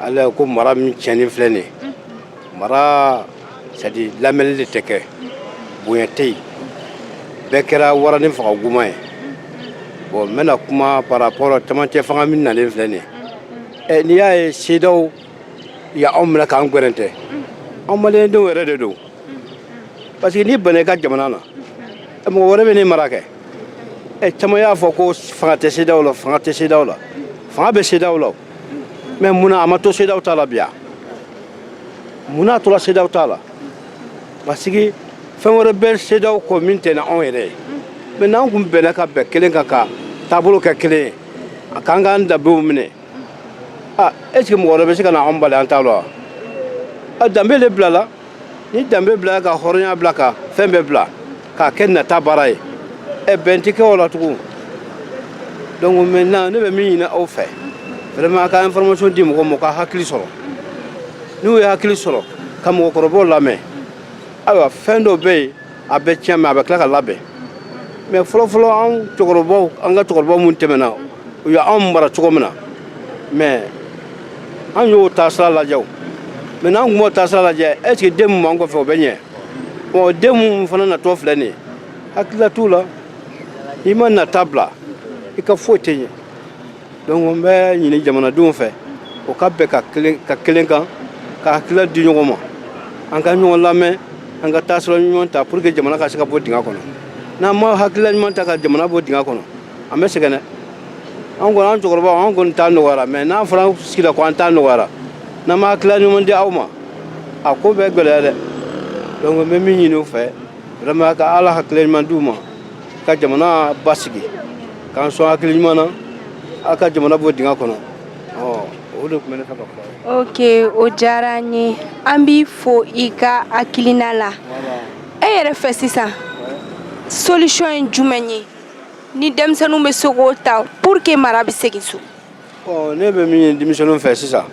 ala ko mara min tiɲɛnen filɛ nin mara sadi lamɛnni de tɛ kɛ bonya tɛ yen bɛɛ kɛra wari ni fanga kuma ye bon n bɛna kuma par rapport cɛmancɛ fanga min nalen filɛ nin ye n'i y'a ye CEDEAO ye anw minɛ k'an gwɛrɛntɛ anw malidenw yɛrɛ de don parce que n'i banna i ka jamana na mɔgɔ wɛrɛ bɛ n'i mara kɛ ɛ caman y'a fɔ ko fanga tɛ CEDEAO la fanga tɛ CEDEAO la fanga bɛ CEDEAO la mais mun na a ma to CEDEAO ta la ou bien mun n'a tora CEDEAO ta la parce que fɛn wɛrɛ bɛ CEDEAO kɔ min tɛna anw yɛrɛ ye mais n'an kun bɛnna ka bɛn kelen kan ka taabolo kɛ kelen ye a k'an k'an danbew minɛ a est ce que mɔgɔ wɛrɛ bɛ se ka na anw bali an ta la wa a danbe de bilala ni danbe bila ka hɔrɔnya bila ka fɛn bɛɛ bila k'a kɛ nata baara ye ɛ bɛn tɛ kɛ o la tugun donc maintenant ne bɛ min ɲini aw fɛ vraiment a ka information di mɔgɔ ma ka hakili sɔrɔ n'u ye hakili sɔrɔ ka mɔgɔkɔrɔbaw lamɛn ayiwa fɛn dɔ bɛ yen a bɛ tiɲɛ mais a bɛ tila ka labɛn mais fɔlɔfɔlɔ an cɛkɔrɔbaw an ka cɛkɔrɔba minnu tɛmɛna u ye anw mara cogo min na mais an y'o taasira lajɛ wa mais n'an tun b'o taasira lajɛ est ce que den minnu b'an kɔfɛ o bɛ ɲɛ ɔ den minnu fana natɔ filɛ nin ye hakilila t'u la i ma nata bila i ka foyi tɛ ɲɛ donc n bɛ ɲini jamanadenw fɛ u ka bɛn kan kelen kan ka hakilila di ɲɔgɔn ma an ka ɲɔgɔn lamɛn an ka taasira ɲuman ta pour que jamana ka se ka bɔ dingɛ kɔnɔ n'an ma hakilila ɲuman ta ka jamana bɔ dingɛ kɔnɔ an bɛ sɛgɛn dɛ an kɔni an cɛkɔrɔbaw an kɔni ta nɔgɔyara mais n'an fana sigira ko an ta nɔgɔyara n'an ma hakilila ɲuman di aw ma a ko bɛ gɛlɛya dɛ donc n bɛ min ɲini u fɛ vraiment ka ala hakilila ɲuman di u ma ka jamana basigi k'an sɔn hakili ɲuman na aw ka jamana bɔ dingɛ kɔnɔ o de tun bɛ ne fɛ ka fɔ ok o diyara an ye an b'i fo i ka hakilina la e yɛrɛ fɛ sisan solution ye jumɛn ye ni denmisɛnninw bɛ se k'o ta pour que mara bɛ segin so ɔ ne bɛ min ɲini denmisɛnninw fɛ sisan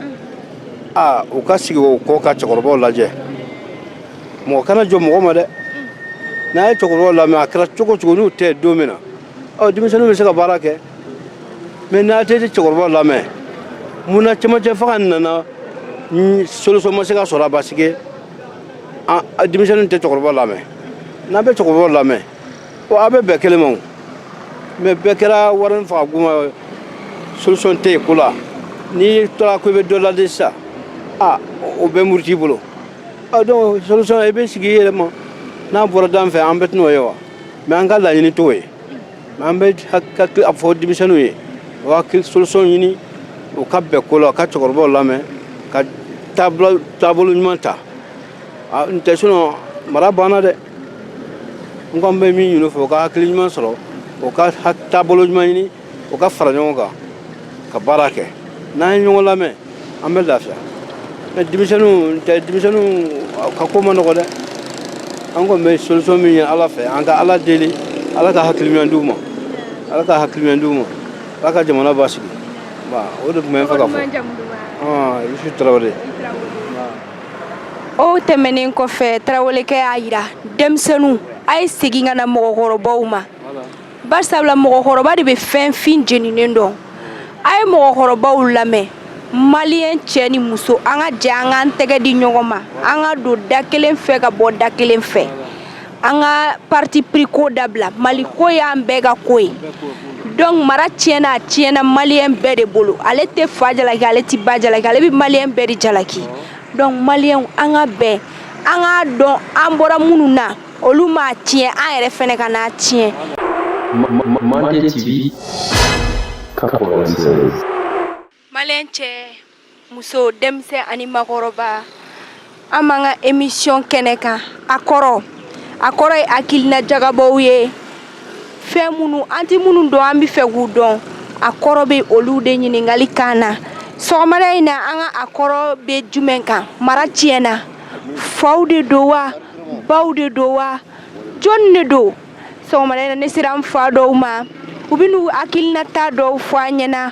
aa u ka segin u kɔ ka cɛkɔrɔbaw lajɛ mɔgɔ kana jɔ mɔgɔ ma dɛ n'a ye cɛkɔrɔbaw lamɛn a kɛra cogo cogo n'u tɛ don min na ɔ denmisɛnninw bɛ se ka baara kɛ mais n'a tɛ cɛkɔrɔbaw lamɛn mun na cɛmancɛ fanga nana solution ma se ka sɔrɔ a parce que denmisɛnninw tɛ cɛkɔrɔbaw lamɛn n'an bɛ cɛkɔrɔbaw lamɛn Bon a bɛ bɛɛ kelen ma mais bɛɛ kɛra wari fa kuma solution tɛ yen ko la n'i tora ko i bɛ dɔ ladi sa aa o bɛ murut'i bolo donc solution i bɛ sigi i yɛrɛ ma n'a bɔra dan fɛ an bɛ tɛnao ye wa mais an ka laɲini t'o ye mais an bɛ a fɔ denmisɛnninw ye solution ɲini u ka bɛn ko la ka cɛkɔrɔbaw lamɛn ka taabolo ɲuman ta n'o tɛ sinon mara banna dɛ n kɔni bɛ min ɲini u fɛ u ka hakili ɲuman sɔrɔ u ka taabolo ɲuman ɲini u ka fara ɲɔgɔn kan ka baara kɛ n'an ye ɲɔgɔn lamɛn an bɛ lafiya mais denmisɛnninw tɛ denmisɛnninw ka ko ma nɔgɔ dɛ an kɔni bɛ solution min ye ala fɛ an ka ala deli ala ka hakili ɲuman d'u ma ala ka hakili ɲuman d'u ma ala ka jamana basigi o de tun bɛ n fɛ ka fɔ je suis tarawele o tɛmɛnen kɔfɛ tarawelekɛ y'a jira denmisɛnninw a ye segin ka na mɔgɔkɔrɔbaw ma barisabula mɔgɔkɔrɔba de bɛ fɛn fin jeninen dɔn a ye mɔgɔkɔrɔbaw lamɛn maliyɛn cɛ ni muso an ka jɛ an k'an tɛgɛ di ɲɔgɔn ma an ka don da kelen fɛ ka bɔ da kelen fɛ an ka parti pris ko dabila mali ko y'an bɛɛ ka ko ye donc mara tiɲɛna a tiɲɛna maliyɛn bɛɛ de bolo ale tɛ fa jalaki ale tɛ ba jalaki ale bɛ maliyɛn bɛɛ de jalaki donc maliyɛnw an ka bɛn an k'a dɔn an bɔra minnu na olu m'a tiɲɛ an yɛrɛ fɛnɛ kan'a tiɲɛ Mande TV 96 Mali cɛ muso denmisɛnnin ani makɔrɔba an b'an ka emisiyɔn kɛnɛ kan a kɔrɔ a kɔrɔ ye hakilina jagabɔ ye fɛn minnu an tɛ minnu dɔn an b'a fɛ k'u dɔn a kɔrɔ bɛ olu de ɲininkali kan na sɔgɔmada in na an ka a kɔrɔ bɛ jumɛn kan mara tiɲɛna faw de don wa baw de don wa jɔn de don sɔgɔmada in na ne sera an fa dɔw ma u bɛ n'u hakilinata dɔw fɔ an ɲɛna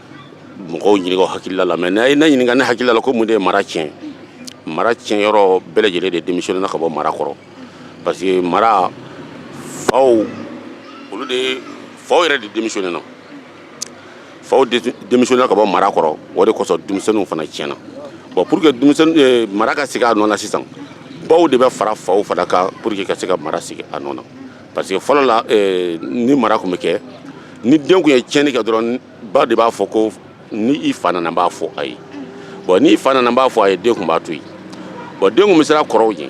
mɔgɔw ɲininka hakilila la mɛ n'a ye ne ɲininka ne hakilila la ko mun de ye mara tiɲɛ mara tiɲɛ yɔrɔ bɛɛ lajɛlen de demisiyɔnena ka bɔ mara kɔrɔ parce que mara faw olu de faw yɛrɛ de demisiyɔnena faw demisiyɔnena ka bɔ mara kɔrɔ o de kosɔn denmisɛnninw fana tiɲɛna bɔn pour que denmisɛnnin eh, mara ka sigi a nɔ na sisan baw de bɛ fara faw fana kan pour que ka se ka mara sigi a nɔ na parce que fɔlɔ la eh, ni mara tun bɛ kɛ ni den tun ye tiɲɛni kɛ dɔrɔn ba de b'a fɔ ko ni i fa nana n b'a fɔ a ye bɔn n'i fa nana n b'a fɔ a ye den tun b'a to yen bɔn den tun bɛ siran kɔrɔw ɲɛ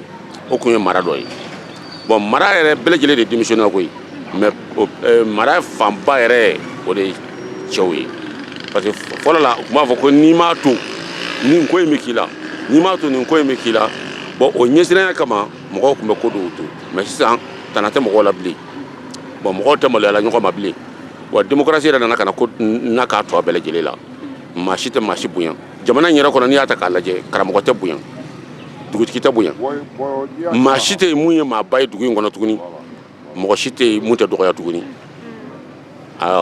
o tun ye mara dɔ ye bɔn mara yɛrɛ bɛɛ lajɛlen de demisiyɔnena koyi mɛ eh, mara fanba yɛrɛ o de ye cɛw ye parce que fɔlɔ la u tun b'a fɔ ko n'i m'a to nin ko in bɛ k'i la n'i m'a to nin ko in bɛ k'i la bɔn o ɲɛsiranya kama mɔgɔw tun bɛ ko dɔw to mɛ sisan tana tɛ mɔgɔw la bilen bɔn mɔgɔw tɛ maloya la ɲɔgɔn ma bilen wa démocratie yɛrɛ nana ka na ka na k'a tɔ bɛɛ lajɛlen la maa si tɛ maa si bonya jamana in yɛrɛ kɔnɔ n'i y'a ta k'a lajɛ karamɔgɔ tɛ bonya dugutigi tɛ bonya maa si tɛ yen mun ye maaba ye dugu in kɔnɔ tuguni mɔgɔ si tɛ yen mun tɛ dɔgɔya tuguni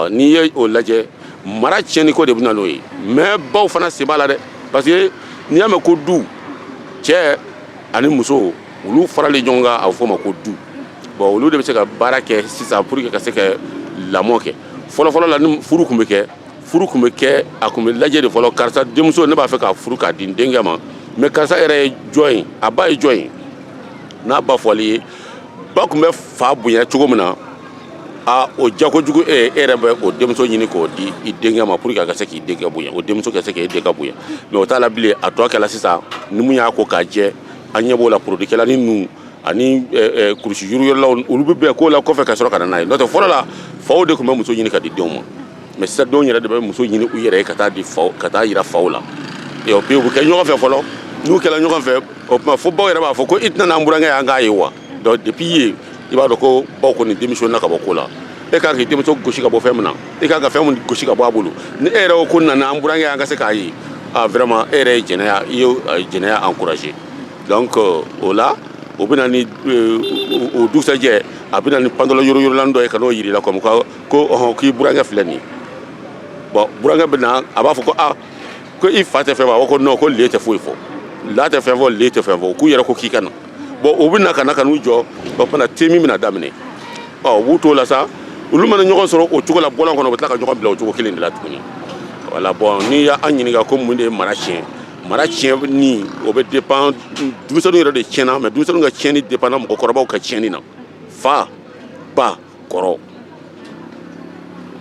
n'i ye o lajɛ mara tiɲɛni ko de bɛ na n'o ye mɛ baw fana sen b'a la dɛ parce que n'i y'a mɛn ko du cɛ ani muso olu faralen ɲɔgɔn kan a bɛ fɔ o ma ko du bɔn olu de bɛ se ka baara kɛ sisan pour que ka se ka lamɔ kɛ fɔlɔfɔlɔ la ni furu tun bɛ kɛ furu tun bɛ kɛ a tun bɛ lajɛ de fɔlɔ karisa denmuso ne b'a fɛ k'a furu k'a di n denkɛ ma mɛ karisa yɛrɛ ye jɔn ye a ba ye jɔn ye n'a ba fɔli ye ba tun bɛ fa bonya cogo min na a o diya kojugu e e yɛrɛ bɛ o denmuso ɲini k'o di i denkɛ ma pour que a ka se k'i denkɛ bonya o denmuso ka se k'e denkɛ bonya mɛ o t'a la bilen a tɔ kɛla sisan ni mun y'a ko k'a jɛ an ɲɛ b'o la produit kɛla ninnu ani kurusi yuruyɔrɔlaw olu bɛ bɛn ko la kɔfɛ ka sɔrɔ ka na n'a ye n'o tɛ fɔlɔ la faw de tun bɛ muso ɲini ka di denw ma mɛ sisan denw yɛrɛ de bɛ muso ɲini u yɛrɛ ye ka taa di faw ka taa yira faw la ɔ bi u bɛ kɛ ɲɔgɔn fɛ fɔlɔ n'u kɛra ɲɔgɔn fɛ o tuma fo baw yɛrɛ b'a fɔ ko i tɛ na n'an burankɛ ye an k'a ye wa donc depuis yen i b'a dɔn ko baw kɔni démissionna ka bɔ ko la e kan k'i denmuso gosi ka bɔ fɛn min na e kan ka fɛn min gosi ka bɔ a bolo ni e yɛrɛ ko nana an burankɛ an ka se k'a ye a vraiment e yɛrɛ ye jɛnɛya i ye jɛnɛya encouragé donc euh, o la o bɛ na ni euh, o dugusajɛ a bɛ na ni pantalon yoroyorolan dɔ ye ka n'o yira i la comme ko ɔhɔn k'i burankɛ filɛ nin ye bon burankɛ bɛ na a b'a fɔ ko a ko i fa tɛ fɛn fɔ a ko non ko ale tɛ foyi fɔ a la tɛ fɛn fɔ ale tɛ fɛn fɔ k'u yɛrɛ ko k'i ka na bon o bɛ na ka na ka n'u jɔ o fana temi bɛna daminɛ ɔ b'u t'o la sa olu mana ɲɔgɔn sɔrɔ o cogo la bɔlɔn kɔnɔ u bɛ tila ka ɲɔgɔn bila o cogo kelen de la tuguni voilà bon n'i y'an ɲininka ko mun de ye mara tiɲɛ mara tiɲɛni o bɛ dépend denmisɛnninw yɛrɛ de tiɲɛna mais denmisɛnninw ka tiɲɛni dépendra mɔgɔkɔrɔbaw ka tiɲɛni na fa ba kɔrɔ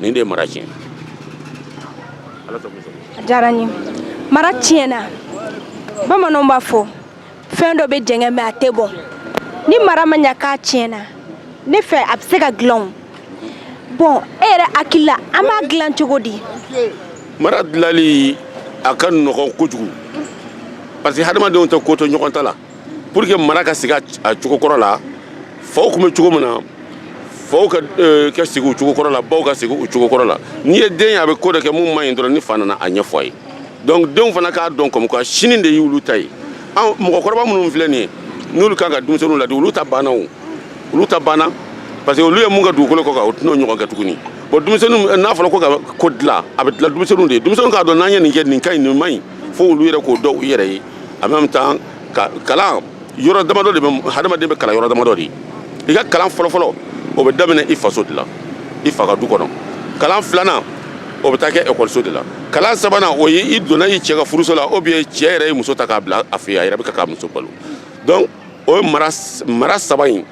nin de ye mara tiɲɛ a diyara n ye mara tiɲɛna bamananw b'a fɔ fɛn dɔ bɛ jɛngɛ mais a tɛ bɔn ni mara ma ɲa k'a tiɲɛna ne fɛ a bɛ se ka dilan o bon e yɛrɛ hakili la an b'a dilan cogo di mara dilali a ka nɔgɔn kojugu parce que hadamadenw tɛ ko to ɲɔgɔn ta la pour que mara ka sigi a cogo kɔrɔ la faw tun bɛ cogo min na faw ka euh, ka sigi u cogo kɔrɔ la baw ka sigi u cogo kɔrɔ la n'i ye den ye a bɛ ko dɔ kɛ min man ɲi dɔrɔn ni fa nana a ɲɛfɔ a ye donc denw fana k'a dɔn comme quoi sini de y'olu ta ye an mɔgɔkɔrɔba minnu filɛ nin ye n'olu kan ka denmisɛnninw ladi olu ta banna o olu ta banna parce que olu ye min kɛ dugukolo kɔ kan o tɛn'o ɲɔgɔn kɛ tuguni bon denmisɛnninw n'a fɔra ko ka ko dilan a bɛ dilan denmisɛnninw de ye denmisɛnninw k'a dɔn n'an ye nin kɛ nin ka ɲi nin man ɲi fo olu yɛrɛ k'o dɔn u yɛrɛ ye en même temps kalan yɔrɔ damadɔ de bɛ hadamaden bɛ kalan yɔrɔ damadɔ de i ka kalan fɔlɔfɔlɔ o bɛ daminɛ i faso de la i fa ka du kɔnɔ kalan filanan o bɛ taa kɛ ekɔliso de la kalan sabanan o ye i donna i cɛ ka furuso la ou bien cɛ yɛrɛ ye muso ta k'a bila a fɛ yen a yɛrɛ bɛ k'a ka muso balo donc o ye mara mara saba ye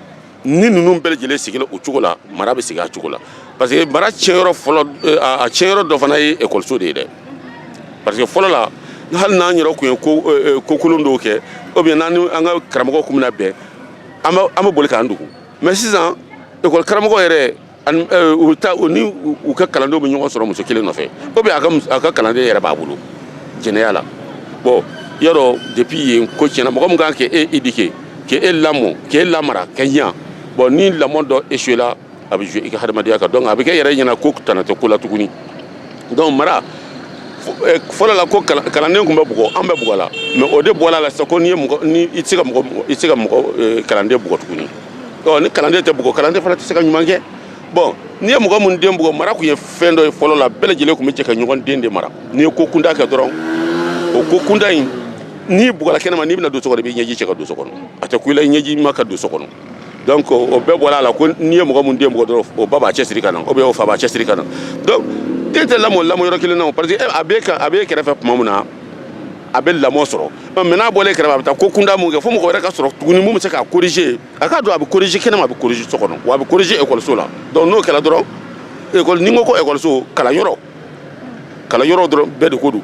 ni ninnu bɛɛ lajɛlen sigira o cogo la mara bɛ sigi a cogo la parce que mara tiɲɛyɔrɔ fɔlɔ eh, a tiɲɛyɔrɔ dɔ fana ye ekɔliso de ye dɛ parce que fɔlɔ la hali n'an yɛrɛ tun ye ko eh, eh, ko kolon dɔw kɛ ou bien n'an ni an ka karamɔgɔ tun bɛna bɛn an bɛ an bɛ boli k'an dogo mais sisan ekɔli karamɔgɔ yɛrɛ u ta u ni u ka kalandenw bɛ ɲɔgɔn sɔrɔ muso kelen nɔfɛ ou bien a ka kalanden yɛrɛ b'a bolo jɛnɛya la bon yɔrɔ depuis yen ko tiɲɛna mɔgɔ min kan k'e e éduquer k'e e lamɔ k'e e lamara ka ɲa bon ni lamɔ dɔ échoué la a bɛ jouer i ka hadamadenya kan donc a bɛ kɛ a yɛrɛ ɲɛ na ko tana tɛ ko la tuguni donc mara fɔlɔ la ko kalanden tun bɛ bugɔ an bɛɛ bugɔla mais o de bɔra a la sisan ko n'i ye mɔgɔ ni i tɛ se ka mɔgɔ i tɛ se ka mɔgɔ kalanden bugɔ tuguni ɔ ni kalanden tɛ bugɔ kalanden fana tɛ se ka ɲuman kɛ bon n'i ye mɔgɔ min den bugɔ mara tun ye fɛn dɔ ye fɔlɔ la bɛɛ lajɛlen tun bɛ jɛ ka ɲɔgɔn den de mara n'i ye ko kuntan kɛ dɔrɔn o ko kuntan in n'i bugɔla kɛnɛma n'i bɛna don so kɔnɔ i b'i ɲɛji cɛ ka don so kɔnɔ a tɛ kun i la i ɲɛjima ka don so kɔnɔ donc o bɛɛ bɔra a la ko n'i ye mɔgɔ min den bugɔ dɔrɔn o ba b'a cɛsiri ka na oubien o fa b'a cɛsiri ka na donc den tɛ lamɔ lamɔ yɔrɔ kelen na o parce que a b'e kan a b'e kɛrɛfɛ tuma min na a bɛ lamɔ sɔrɔ mais n'a bɔlen kɛrɛfɛ a bɛ taa ko kuntan mun kɛ fo mɔgɔ wɛrɛ ka sɔrɔ tuguni mun bɛ se k'a corriger a k'a dɔn a bɛ corriger kɛnɛma a bɛ corriger so kɔnɔ wa a bɛ corriger ekɔliso la donc n'o kɛra dɔrɔn ekɔli ni n ko ko ekɔliso kalanyɔrɔ kalanyɔrɔ dɔrɔn bɛɛ de ko don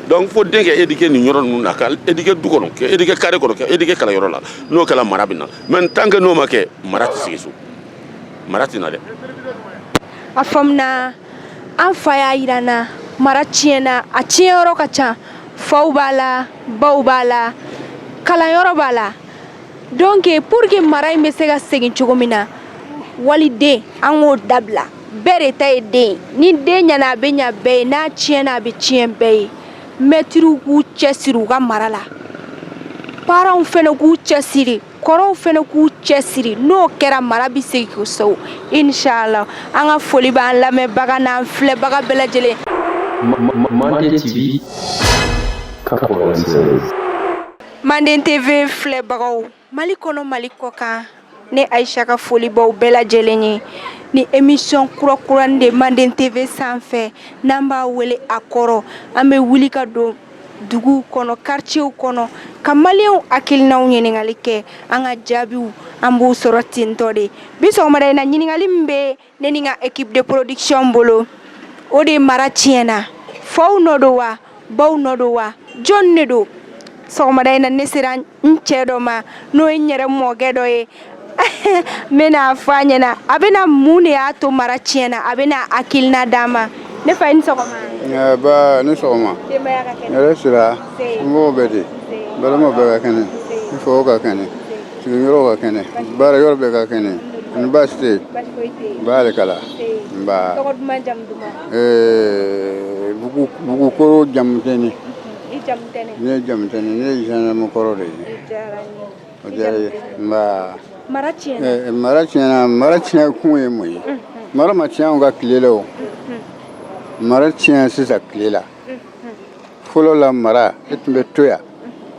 donc fo den ka éduquer nin yɔrɔ ninnu na ka éduquer du kɔnɔ ka éduquer carré kɔnɔ ka éduquer kalanyɔrɔ la n'o kɛra mara bɛ na mais tant que n'o ma kɛ mara tɛ segin so mara tɛ na dɛ a faamuna an fa y'a jira an na mara tiɲɛna a tiɲɛyɔrɔ ka ca faw b'a la baw b'a la kalanyɔrɔ b'a la donc pour que mara in bɛ se ka segin cogo min na waliden an k'o dabila bɛɛ de ta ye den ye ni den ɲana a bɛ ɲa bɛɛ ye n'a tiɲɛna a bɛ tiɲɛ bɛɛ ye mɛtiriw k'u cɛsiri u ka mara la parents fana k'u cɛsiri kɔrɔw fana k'u cɛsiri n'o kɛra mara bɛ segin kosɛbɛ inshallah an ka foli b'an lamɛnbaga n'an filɛbaga bɛɛ lajɛlen Manden TV filɛbagaw Mali kɔnɔ Mali kɔkan ne Aisha ka foli b'aw bɛɛ lajɛlen ye nin émission kura kurani de ye Manden TV sanfɛ n'an b'a wele a kɔrɔ an bɛ wuli ka don duguw kɔnɔ quartierw kɔnɔ ka Malienw hakilinanw ɲininkali kɛ an ka jaabiw an b'u sɔrɔ tentɔ de bi sɔgɔmada in na ɲininkali min bɛ ne ni n ka équipe de production bolo o de mara tiɲɛna faw nɔ don wa baw nɔ don wa jɔn de don sɔgɔmada in na ne sera n cɛ dɔ ma n'o ye n yɛrɛ mɔkɛ dɔ ye min bɛna a fɔ an ɲɛna a bɛna mun de y'a to mara tiɲɛna a bɛna hakilina d'an ma ne fa i ni sɔgɔma Eh, nba i ni sɔgɔma denbaya ka kɛnɛ hɛrɛ sira mɔgɔ bɛ di balima bɛɛ ka kɛnɛ n faw ka kɛnɛ sigiyɔrɔ ka kɛnɛ baara yɔrɔ bɛɛ ka kɛnɛ ani baasi tɛ yen baasi foyi tɛ yen barika Ala n ba tɔgɔ duman jamu duman Eh, Bugu Bugukoro Jamutɛnɛ i Jamutɛnɛ ne ye Jamutɛnɛ ne ye zɛnɛmu kɔrɔ de ye o diyara ye nba mara tiɲɛna mara tiɲɛna mara tiɲɛ kun ye mun ye mara ma tiɲɛ anw ka tile la o mara tiɲɛ sisan tile la fɔlɔ la mara e tun bɛ to yan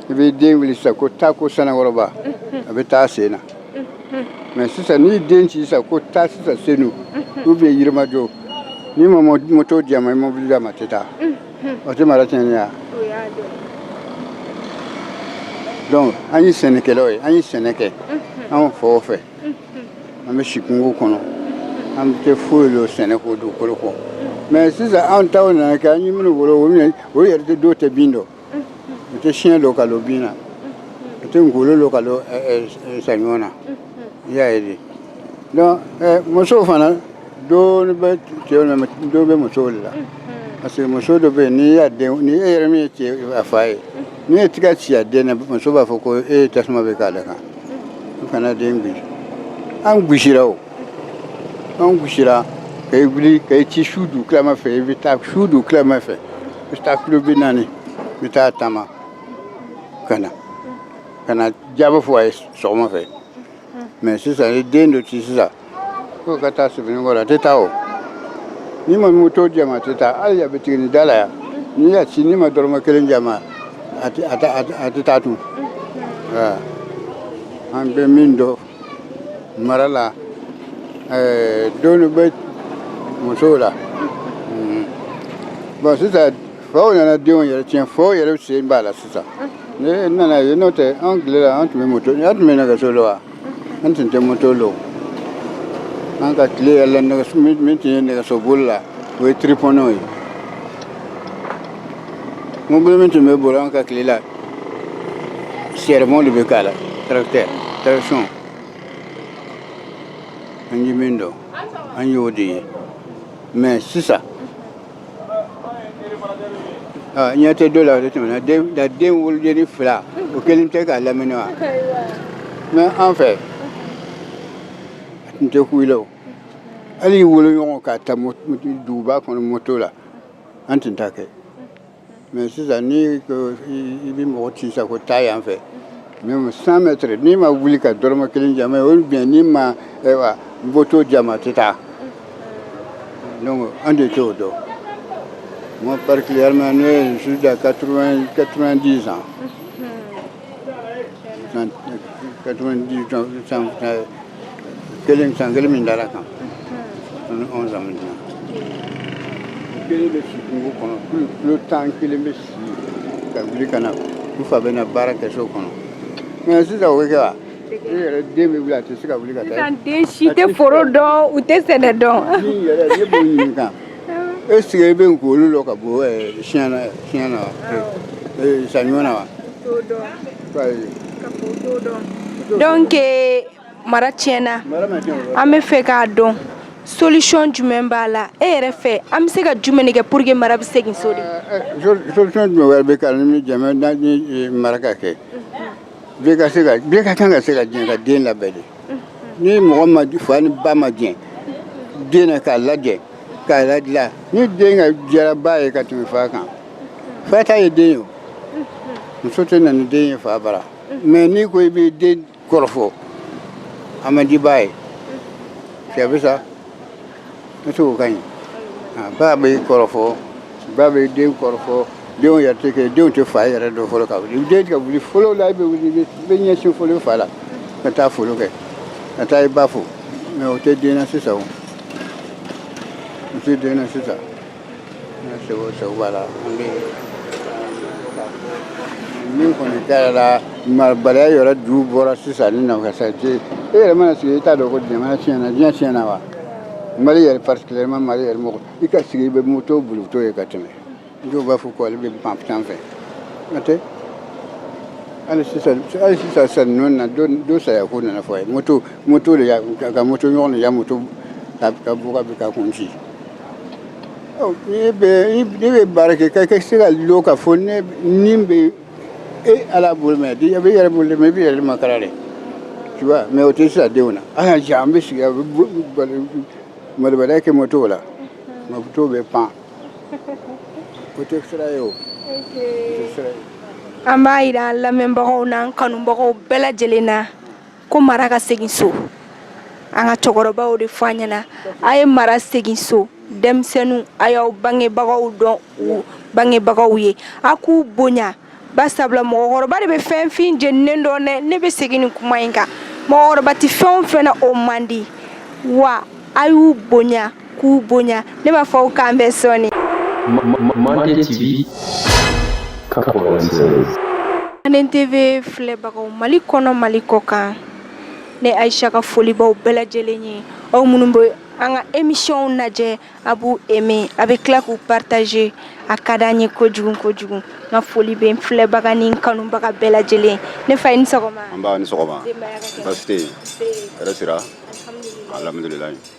i b'i den wuli sisan ko taa ko Sanankɔrɔba a bɛ taa sen na mais sisan n'i den ci sisan ko taa sisan Senu oubien Yirimajɔ n'i ma moto di a ma i mobili di a ma a tɛ taa o tɛ mara tiɲɛ ya donc an ye sɛnɛkɛlaw ye an ye sɛnɛ kɛ anw faw fɛ an bɛ si kungo kɔnɔ an tɛ foyi dɔn sɛnɛko dugukolo kɔ mɛ sisan anw taw nana kɛ an ye minnu wolo olu ye- olu yɛrɛ tɛ dɔw tɛ bin dɔn u tɛ siɲɛ dɔn ka dɔn bin na u tɛ ngolo dɔn ka dɔn ɛ, ɛ, ɛ, saɲɔ na i y'a ye de donc eh, musow fana dɔ bɛ cɛw la dɔ bɛ musow de la parce que muso dɔ bɛ yen n'i y'a den ni e yɛrɛ min ye cɛ a fa ye n'i ye tɛgɛ ci a den na muso b'a fɔ ko e ye tasuma de k'ale kan i kana den gosi an gosira o an gosira ka i wuli ka i ci su dugutilama fɛ i bɛ taa su dugutilama fɛ i bɛ taa kilo bi naani i bɛ taa taama ka na ka na jaabi fɔ a ye sɔgɔma fɛ mɛ sisan i ye den dɔ ci sisan ko ka taa Sebenikɔrɔ la a tɛ taa o n'i ma moto d'a ma a tɛ taa hali butiginin da la yan n'i y'a ci n'i ma dɔrɔmɛ kelen d'a ma a tɛ taa tun an bɛ min dɔn mara la donc dɔ bɛ musow la bɔn sisan Faw nana denw yɛrɛ tiɲɛ faw yɛrɛ sen b'a la sisan ne nana ye n'o tɛ an tile la an tun bɛ moto an tun bɛ nɛgɛso la wa an tun tɛ moto la an ka tile yɛrɛ la nɛgɛso min tun ye nɛgɛso bolila o ye tiripɔnɛw ye mobili min tun bɛ boli an ka tile la sɛrɛmɔw de bɛ k'a la tarakitɛ tarakisɔn an ye min dɔn an y'o de ye mɛ sisan ɲɛ tɛ do la o de tɛmɛna den da den wolodenni fila o kelen tɛ k'a lamini wa mɛ an fɛ a tun tɛ kuyila o hali woloɲɔgɔn ka taa duguba kɔnɔ moto la an tun t'a kɛ mɛ sisan ni i bɛ mɔgɔ ci sa ko taa yan fɛ même cent mètres n'i ma wuli ka dɔrɔmɛ kelen d'a ma ou bien n'i ma ayiwa moto d'a ma a tɛ taa donc an de t'o dɔn moi particulièrement je suis à 90 ans 90 ans san kelen san kelen min dara a kan ani anw san min dina kelen bɛ si kungo kɔnɔ tile tan kelen bɛ si ka wuli ka na n fa bɛ na baara kɛ so kɔnɔ mɛ sisan o bɛ kɛ wa i yɛrɛ den bɛ wuli a tɛ se ka wuli ka taa sisan den si tɛ foro dɔn u tɛ sɛnɛ dɔn min yɛrɛ ne b'o ɲininka e sigi e bɛ nkolo dɔ ka bɔ siɲɛ na siɲɛ na saɲɔ na wa donc mara tiɲɛna an bɛ fɛ k'a dɔn solution jumɛn b'a la e yɛrɛ fɛ an bɛ se ka jumɛn de kɛ pour que mara bɛ segin so de solution jumɛn wɛrɛ bɛ ka ni jama ni mara ka kɛ bɛɛ ka se ka bɛɛ ka kan ka se ka jɛ ka den labɛn de ni mɔgɔ ma fa ni ba ma jɛ den na k'a lajɛ k'a ladilan ni den ko diyara ba ye ka tɛmɛ fa kan fa ta ye den ye o muso tɛ na ni den ye fa bara mais n'i ko i bɛ den kɔrɔfɔ a man di ba ye cɛ bɛ sa Ne t'o ka ɲi ba bɛ kɔrɔfɔ ba bɛ den kɔrɔfɔ denw yɛrɛ tɛ kɛ denw tɛ fa yɛrɛ dɔn fɔlɔ ka wuli den ka wuli fɔlɔ la i bɛ wuli i bɛ ɲɛsin fɔlɔ fa la ka taa foli kɛ ka taa i ba fo mais o tɛ den na sisan o o tɛ den na sisan segu segu b'a la an bɛ min kɔni taara la marabaliya yɛrɛ ju bɔra sisan ni nafasa e yɛrɛ mana sigi i t'a dɔn ko jamana tiɲɛna diɲɛ tiɲɛna wa mali yɛrɛ particulièrement mali yɛrɛ mɔgɔ i ka sigi i bɛ moto bolitɔ ye ka tɛmɛ dɔw b'a fɔ ko ale bɛ pan tan fɛ n'o tɛ hali sisan hali sisan sisan ninnu na dɔ saya ko nana fɔ a ye moto moto de y'a ka moto ɲɔgɔn de y'a moto ka bɔ ka bin ka kun ci Ne bɛ baara kɛ ka se ka lɔ ka fɔ ne ni bɛ e Ala bolo mais di bɛ yɛrɛ bolo mais i b'i yɛrɛ makaran dɛ mais o tɛ sira denw na an ka an bɛ sigi malo wɛrɛ kɛ motow la moto bɛ pan o tɛ sira ye o an b'a jira lamɛnbagaw na kanubagaw bɛɛ lajɛlen na ko mara ka segin so an ka cɛkɔrɔbaw de fɔ an ɲɛna a ye mara segin so denmisɛnninw a y'aw bangebagaw dɔn u bangebagaw ye a k'u bonya ba sabula mɔgɔkɔrɔba de bɛ fɛn fin jeninen dɔn dɛ ne bɛ segin nin kuma in kan mɔgɔkɔrɔba tɛ fɛn o fɛn na o man di wa a y'u bonya k'u bonya ne b'a fɔ aw k'an bɛn sɔɔni Mande TV 96 Manden TV filɛbagaw Mali kɔnɔ Mali kɔkan ne Ayisa ka foli b'aw bɛɛ lajɛlen ye aw minnu bɛ an ka émission lajɛ a b'u aimer a bɛ tila k'u partager a ka d'an ye kojugu kojugu n ka foli bɛ n filɛbaga ni n kanubaga bɛɛ lajɛlen ne fa i ni sɔgɔma nba i ni sɔgɔma denbaya ka kɛnɛ baasi tɛ yen hɛrɛ sira alhamdulilayi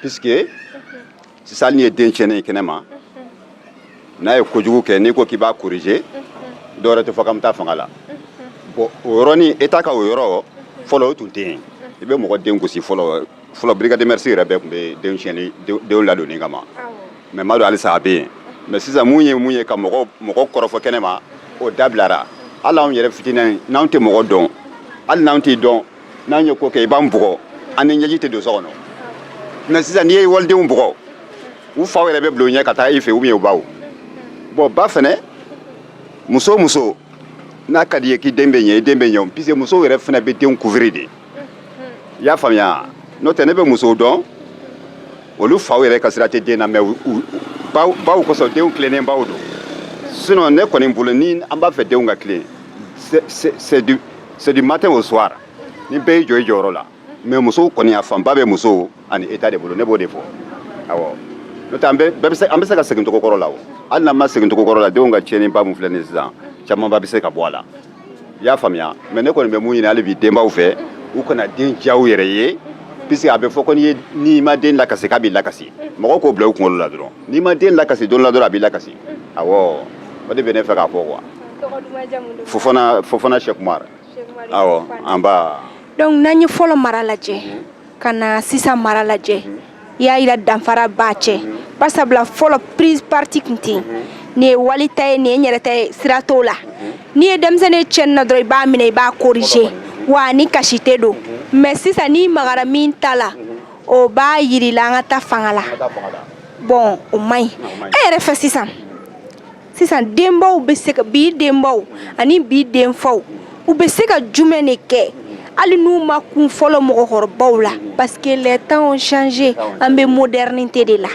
Puisque sisan hali n'i ye den tiɲɛnen ye kɛnɛma n'a ye kojugu kɛ n'i ko k'i b'a corriger dɔ wɛrɛ tɛ fɔ k'an bɛ taa fanga la bon o yɔrɔnin e t'a ka o yɔrɔ fɔlɔ o tun tɛ yen i bɛ mɔgɔ den gosi fɔlɔ fɔlɔ brigade des mœurs yɛrɛ bɛɛ tun bɛ denw tiɲɛni denw ladonni kama mais n m'a dɔn halisa a bɛ yen mais sisan mun ye mun ye ka mɔgɔ mɔgɔ kɔrɔfɔ kɛnɛma o dabilara hali anw yɛrɛ fitinin n'anw tɛ mɔgɔ dɔn hali n'anw t'i dɔn n'an ye ko kɛ i b'an bugɔ an ni ɲɛji tɛ don so kɔnɔ mais sisan n'i ye walidenw bugɔ u faw yɛrɛ bɛ bila u ɲɛ ka taa i fɛ ou bien u baw bon ba fɛnɛ muso muso n'a ka di i ye k'i den bɛ ɲɛ i den bɛ ɲɛ puisque musow yɛrɛ fɛnɛ bɛ denw couvrir de i y'a faamuya n'o tɛ ne bɛ musow dɔn olu faw yɛrɛ ka sira tɛ den na mais baw kosɔn denw tilennen baw don sinon ne kɔni bolo ni an b'a fɛ denw ka tilen c'est du C'est du matin au soir ni bɛɛ y'i jɔ i jɔyɔrɔ la mais musow kɔni a fanba bɛ musow ani état de bolo ne b'o de fɔ awɔ n'o tɛ an bɛ bɛɛ bɛ se an bɛ se ka segin cogo kɔrɔ la o hali n'an ma segin cogo kɔrɔ la denw ka tiɲɛniba min filɛ nin ye sisan camanba bɛ se ka bɔ a la i y'a faamuya mais ne kɔni bɛ mun ɲini hali bi denbaw fɛ u kana den diya u yɛrɛ ye puisque a bɛ fɔ ko n'i ye n'i ma den lakasi k'a b'i lakasi mɔgɔw k'o bila u kunkolo la dɔrɔn n'i ma den lakasi don dɔ la dɔrɔn a b'i lakasi awɔ o de bɛ ne fɛ k'a fɔ quoi Fofana Fofana Cheikh Oumar awɔ an ba donc n'an ye fɔlɔ mara lajɛ ka na sisan mara lajɛ i y'a yira danfara b'a cɛ bari sabula fɔlɔ prise parti tun tɛ yen nin ye wali ta ye nin ye n yɛrɛ ta ye sira t'o la n'i ye denmisɛnnin ye tiɲɛni na dɔrɔn i b'a minɛ i b'a corriger wa a ni kasi tɛ don mais sisan n'i magara min ta la o b'a yir'i la an ka taa fanga la bon o man ɲi e yɛrɛ fɛ sisan sisan denbaw bɛ se ka bi denbaw ani bi denfaw u bɛ se ka jumɛn de kɛ hali n'u ma kun fɔlɔ mɔgɔkɔrɔbaw la parce que les temps ont changé an bɛ modernité de la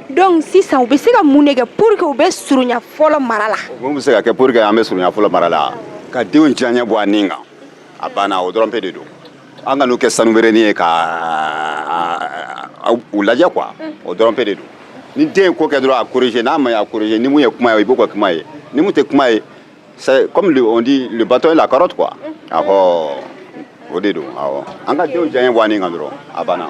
donc sisan u bɛ se ka mun de kɛ pour que u bɛ surunya fɔlɔ mara la mun bɛ se ka kɛ pour que an bɛ surunya fɔlɔ mara la ka denw diyaɲɛ bɔ an ni kan a banna o dɔrɔn pe de don an kan'u kɛ sanu bereni ye ka u lajɛ quoi o dɔrɔn pe de don ni den ye ko kɛ dɔrɔn a corriger n'a ma ye a corriger ni mun ye kuma ye i b'o kɛ kuma ye ni mun tɛ kuma ye c'est comme le, on dit le bâton et la carotte quoi awɔ o de don awɔ an ka denw diyaɲɛ bɔ an ni kan dɔrɔn a banna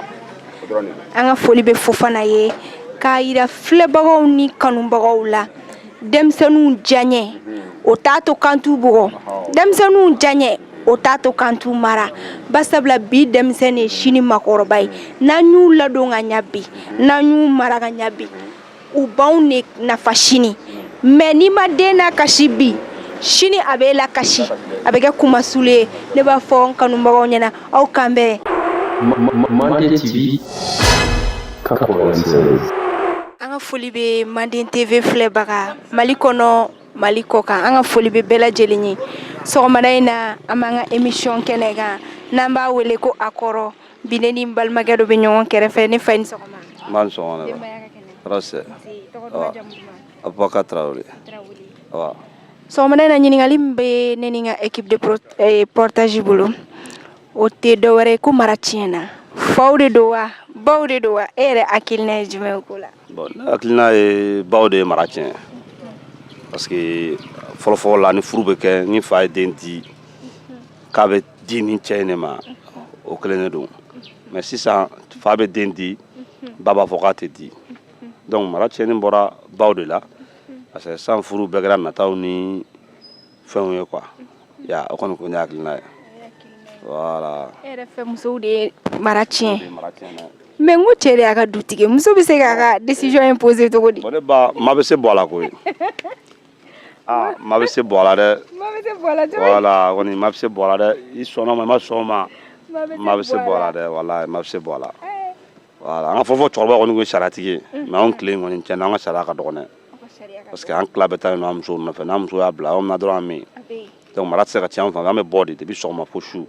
o dɔrɔn de don an ka foli bɛ Fofana ye k'a yira filɛbagaw ni kanubagaw la denmisɛnninw diyaɲɛ o t'a to k'an t'u bugɔ denmisɛnninw diyaɲɛ o t'a to k'an t'u mara barisabula bi denmisɛn de ye sini makɔrɔba ye n'an y'u ladon ka ɲɛ bi n'an y'u mara ka ɲɛ bi u b'anw de nafa sini mais n'i ma den lakasi bi sini a b'e lakasi a bɛ kɛ kunmasuli ye ne b'a fɔ n kanubagaw ɲɛna aw k'an bɛn Mande TV 96. An ka foli bɛ Manden TV filɛbaga mali kɔnɔ mali kɔkan an ka foli bɛ bɛɛ lajɛlen ye sɔgɔmada in na an b'an ka émission kɛnɛ kan n'an b'a wele ko a kɔrɔ bi ne ni balimakɛ dɔ bɛ ɲɔgɔn kɛrɛfɛ ne fa i ni sɔgɔma sɔgɔmada in na ɲininkali bɛ ne ni n ka équipe de reportage bolo o tɛ dɔwɛrɛ ye ko mara tiɲɛ na faw de don wa baw de don wa e yɛrɛ hakilina ye jumɛn ko la bon ne hakilina ye baw de ye mara tiɲɛ parce que fɔlɔfɔlɔ la ni furu bɛ kɛ ni fa ye den di k'a bɛ di ni cɛ in de ma o kelen de don mais sisan fa bɛ den di ba b'a fɔ k'a tɛ di donc mara tiɲɛni bɔra baw de la parce que san furu bɛɛ kɛra nataw ni fɛnw ye quoi ya o kɔni ko ne hakilina ye voilà e yɛrɛ fɛ musow de ye mara tiɲɛ mais n ko cɛ de y'a ka dutigi muso bɛ se k'a ka décision imposer cogo di ne ba ma bɛ se bua la koyi ah ma bɛ se bua la dɛ ma bɛ se bua la cogo di voilà kɔni ma bɛ se bua la dɛ i sɔnna o ma i ma sɔn o ma ma bɛ se bua la dɛ walayi ma bɛ se bua la an ka fɔlɔfɔlɔ cɛkɔrɔba kɔni ye sariyatigi ye mais anw tile kɔni cɛ an ka sariya ka dɔgɔn dɛ parce que an tila bɛ taa an muso nɔfɛ n'an muso y'a bila aw na dɔrɔn an min donc mara tɛ se ka cɛ an fan an bɛ bɔ de depuis sɔgɔma fo su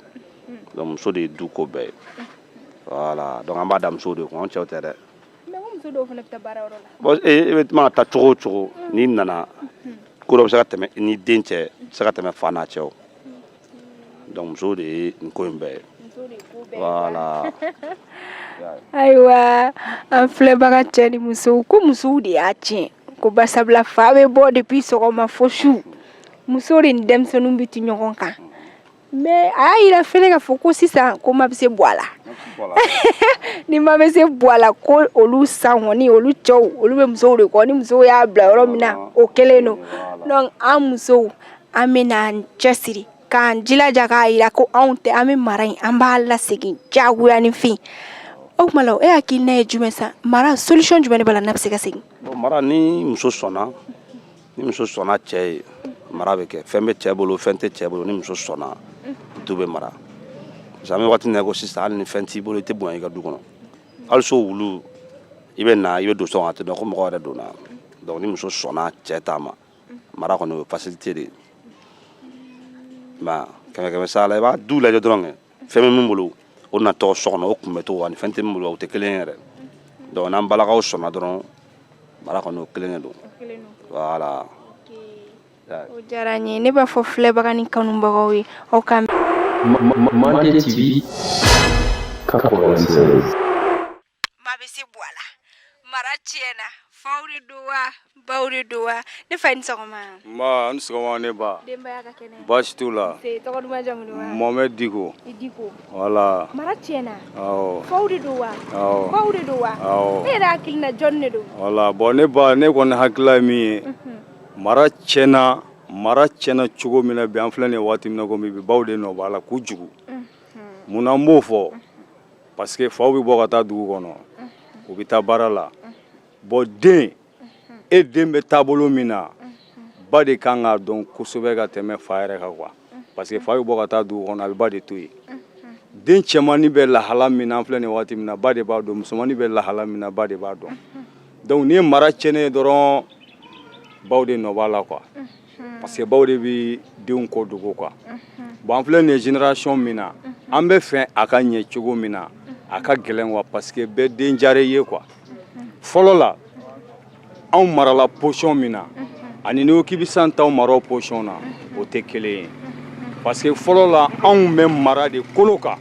muso de ye du ko bɛɛ ye voilà donc an b'a da muso de kun an cɛw tɛ dɛ e bɛ tuma ta cogo o cogo n'i nana ko dɔ bɛ se ka tɛmɛ ni den cɛ se ka tɛmɛ fa n'a cɛ donc muso de ye nin ko in bɛɛ ye voilà ayiwa an filɛbaga cɛ ni musow ko musow de y'a tiɲɛ ko basabula fa bɛ bɔ depuis sɔgɔma fo su muso de ni denmisɛnninw bɛ ti ɲɔgɔn kan mais a y'a yira fɛnɛ k'a fɔ ko sisan ko ma bɛ se bua la ni ma bɛ se bua la ko olu san kɔni olu cɛw olu bɛ musow de kɔ ni musow y'a bila yɔrɔ min na o kelen don donc an musow an bɛ an cɛsiri k'an jilaja k'a jira ko anw tɛ an bɛ mara in an b'a lasegin jagoyayanfin o tuma e y'a k'i ne ye jumɛn sa mara solution jumɛn bɛ na bɛ se ka segin mara ni muso sɔnna ni muso sɔnna cɛ ye mara bɛ kɛ fɛn bɛ cɛ bolo fɛn tɛ cɛ bolo ni muso sɔnna du bɛ mara sisan bɛ waati ko sisan hali ni fɛn t'i bolo i tɛ bonya i ka du kɔnɔ hali so wulu i bɛ na i bɛ don sɔn a t'a dɔn ko mɔgɔ yɛrɛ donna donc ni muso sɔnna cɛ taama ma mara kɔni o ye facilité de ye ma kɛmɛ kɛmɛ sara la i b'a du lajɛ dɔrɔn kɛ fɛn bɛ min bolo o natɔ so kɔnɔ o kunbɛn cogo ani fɛn tɛ min bolo o tɛ kelen ye yɛrɛ donc n'an balakaw sɔnna dɔrɔn mara kɔni o kɛlen de don voilà o diyara n ye ne b'a fɔ filɛbaga ni kanubagaw ye aw ka Mande TV 96 maa bɛ se bɔ a la mara tiɲɛna faw de don wa baw de don wa ne fa i ni sɔgɔma nba a ni sɔgɔma ne baasi t'u la Mohamed Diko voilà mara tiɲɛna faw de don wa baw de don wa e hakili la jɔn de don voilà bon ne ba ne kɔni hakilila ye min ye mara tiɲɛna mara tiɲɛna cogo min na bi an filɛ nin waati min na ko bi baw de nɔ b'a la kojugu munna n b'o fɔ parce que faw bɛ bɔ ka taa dugu kɔnɔ u bɛ taa baara la bon den e den bɛ taabolo min na ba de kan k'a dɔn kosɛbɛ ka tɛmɛ fa yɛrɛ kan quoi parce que fa bɛ bɔ ka taa dugu kɔnɔ a bɛ ba de to yen den cɛmannin bɛ lahala min na an filɛ nin waati min na ba de b'a dɔn musomannin bɛ lahala min na ba de b'a dɔn donc n'i ye mara cɛnnen ye dɔrɔn baw de nɔ b'a la quoi parce que baw de bɛ denw ko dogo quoi bon an filɛ nin ye génération min na an b'a fɛ a ka ɲɛ cogo min na a ka gɛlɛn quoi parce que bɛɛ den jare ye quoi fɔlɔ la anw marala position min na ani n'i ko k'i bɛ sisan taw mara o position na o tɛ kelen ye parce que fɔlɔ la anw bɛ mara de kolo kan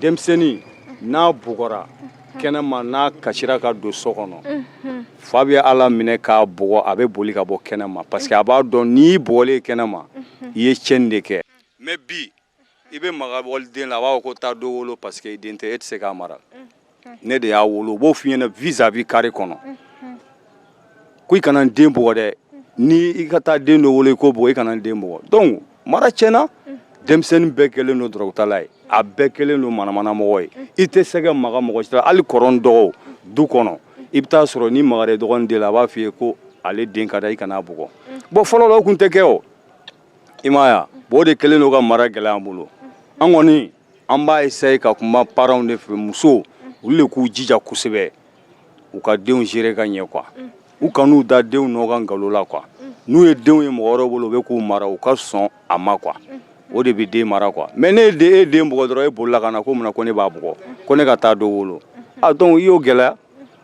denmisɛnnin n'a bugɔra kɛnɛma n'a kasira ka don so kɔnɔ fa bɛ a laminɛ k'a bugɔ a bɛ boli ka bɔ kɛnɛma parce que a b'a dɔn n'i bugɔlen kɛnɛma i ye cɛn de kɛ mais bi i bɛ maga wali den la a b'a fɔ ko taa dɔ wolo parce que i den tɛ e tɛ se k'a mara ne de y'a wolo u b'o f'i ɲɛ na vis-à-vis carré kɔnɔ ko i kana n den bugɔ dɛ ni i ka taa den dɔ wolo i k'o bugɔ i kana n den bugɔ dɔn mara tiɲɛna denmisɛnnin bɛɛ kɛlen don dɔrɔgutala ye a bɛɛ kɛlen don manamanamɔgɔ ye i tɛ se ka maga mɔgɔ si la hali kɔrɔ ni dɔgɔw du kɔnɔ i bɛ taa sɔrɔ n'i magara i dɔgɔnin den la a b'a f'i ye ko ale den ka da i kan'a bugɔ bon fɔlɔ la o tun tɛ kɛ o i m'a ye wa bon o de kɛlen don ka mara gɛlɛya an bolo an kɔni an b'a essayer ka kuma parents de fɛ musow olu de k'u jija kosɛbɛ u ka denw gérer ka ɲɛ quoi u kan'u da denw nɔ kan nkalon la quoi n'u ye denw ye mɔgɔ wɛrɛw bolo u bɛ k'u mara u ka sɔn a ma quoi o de bɛ den mara quoi mais ne ye e den bugɔ dɔrɔn e bolila ka na ko mun na ko ne b'a bugɔ ko ne ka taa dɔ wolo ah donc i y'o gɛlɛya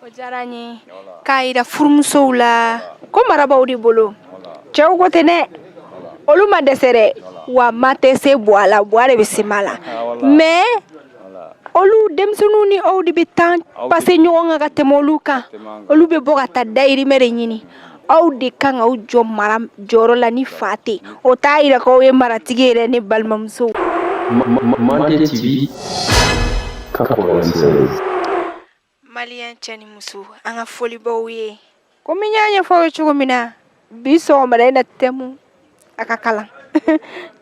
o diyara n ye k'a yira furumusow la ko mara baw de bolo cɛw ko tɛ dɛ olu ma dɛsɛ dɛ wa ma tɛ se buwa la buwa de bɛ se ma la mais olu denmisɛnninw ni aw de bɛ temps passer ɲɔgɔn kan ka tɛmɛ olu kan olu bɛ bɔ ka taa dayirimɛ de ɲini aw de kan k'aw jɔ mara jɔyɔrɔ la ni fa tɛ o t'a yira k'aw ye maratigi ye dɛ ne balimamusow. Mali cɛ ni muso an ka foli b'aw ye komi n y'a ɲɛfɔ i ye cogo min na bi sɔgɔmada in na tɛmu a ka kalan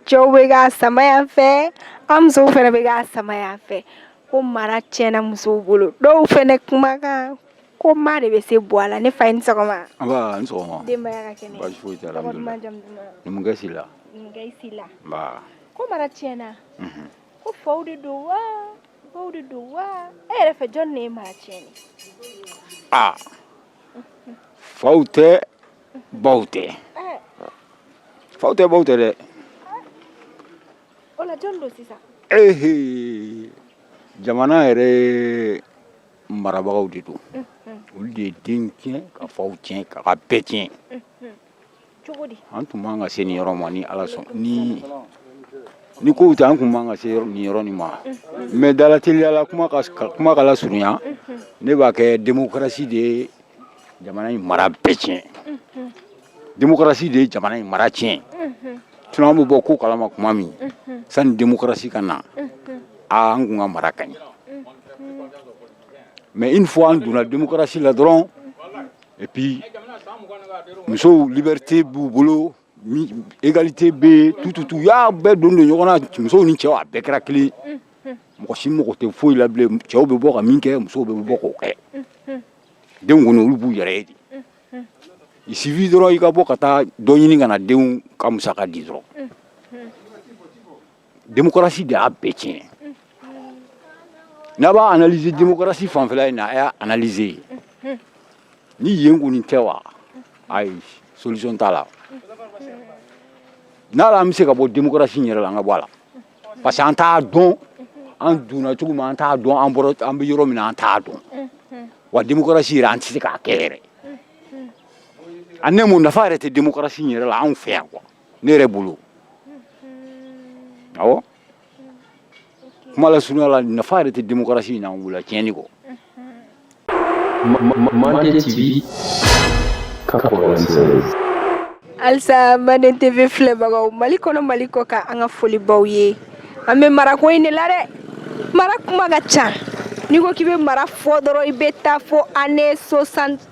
cɛw bɛ k'a sama yan fɛ an musow fana bɛ k'a sama yan fɛ ko mara tiɲɛna musow bolo dɔw fana kumakan ko ma de bɛ se buwa la ne fa i ni sɔgɔma ko mara tiɲɛna ko faw de don wa baw de don wa e yɛrɛ fɛ jɔn ne ye mara tiɲɛ ne aa faw tɛ baw tɛ faw tɛ baw tɛ dɛ o la jɔn don sisan ehe jamana yɛrɛ marabagaw de don olu de ye den tiɲɛ ka faw tiɲɛ ka ka bɛɛ tiɲɛ an tun man kan ka se nin yɔrɔ ma ni ala sɔn ni ni kow tɛ an tun man kan ka se nin yɔrɔ nin ma mɛ dalateliya la kuma ka kuma ka lasurunya ne b'a kɛ demokarasi de ye jamana in mara bɛɛ tiɲɛ demokarasi de ye jamana in mara tiɲɛ sinon an bɛɛ b'o ko kalama kuma min sani demokarasi ka na aa an tun ka mara ka ɲi mɛ une fois an donna demokarasi la dɔrɔn Epi musow libɛrite b'u bolo egalite bɛ tututu y'a bɛɛ don don ɲɔgɔn na musow ni cɛw a bɛɛ kɛra kelen mɔgɔ si mɔgɔ tɛ foyi la cɛw bɛ bɔ ka min kɛ musow bɛ bɔ k'o kɛ denw kɔni olu b'u yɛrɛ ye di i sibi dɔrɔn i ka bɔ ka taa dɔ ɲini ka na denw ka musaka di dɔrɔn demokarasi de y'a bɛɛ tiɲɛ n'a b'a analyser demokarasi fanfɛla in na a y'a analyser ni yen kɔni tɛ wa ayi solution t'a la n'a la an bɛ se ka bɔ demokarasi in yɛrɛ la an ka bɔ a la parce que an t'a dɔn an donna cogo min an t'a dɔn an bɔra an bɛ yɔrɔ min na an t'a dɔn wa demokarasi yɛrɛ an tɛ se k'a kɛ yɛrɛ a nɛmu nafa yɛrɛ tɛ demokarasi in yɛrɛ la anw fɛ yan quoi ne yɛrɛ bolo awɔ kuma lasurunya la nafa yɛrɛ tɛ démocratie in na wula tiɲɛni kɔ Mande TV 96 halisa manden tv filɛbagaw mali kɔnɔ mali kɔkan an ka foli b'aw ye an bɛ marako in de la dɛ mara kuma ka ca n'i ko k'i bɛ mara fɔ dɔrɔn i bɛ taa fo année 60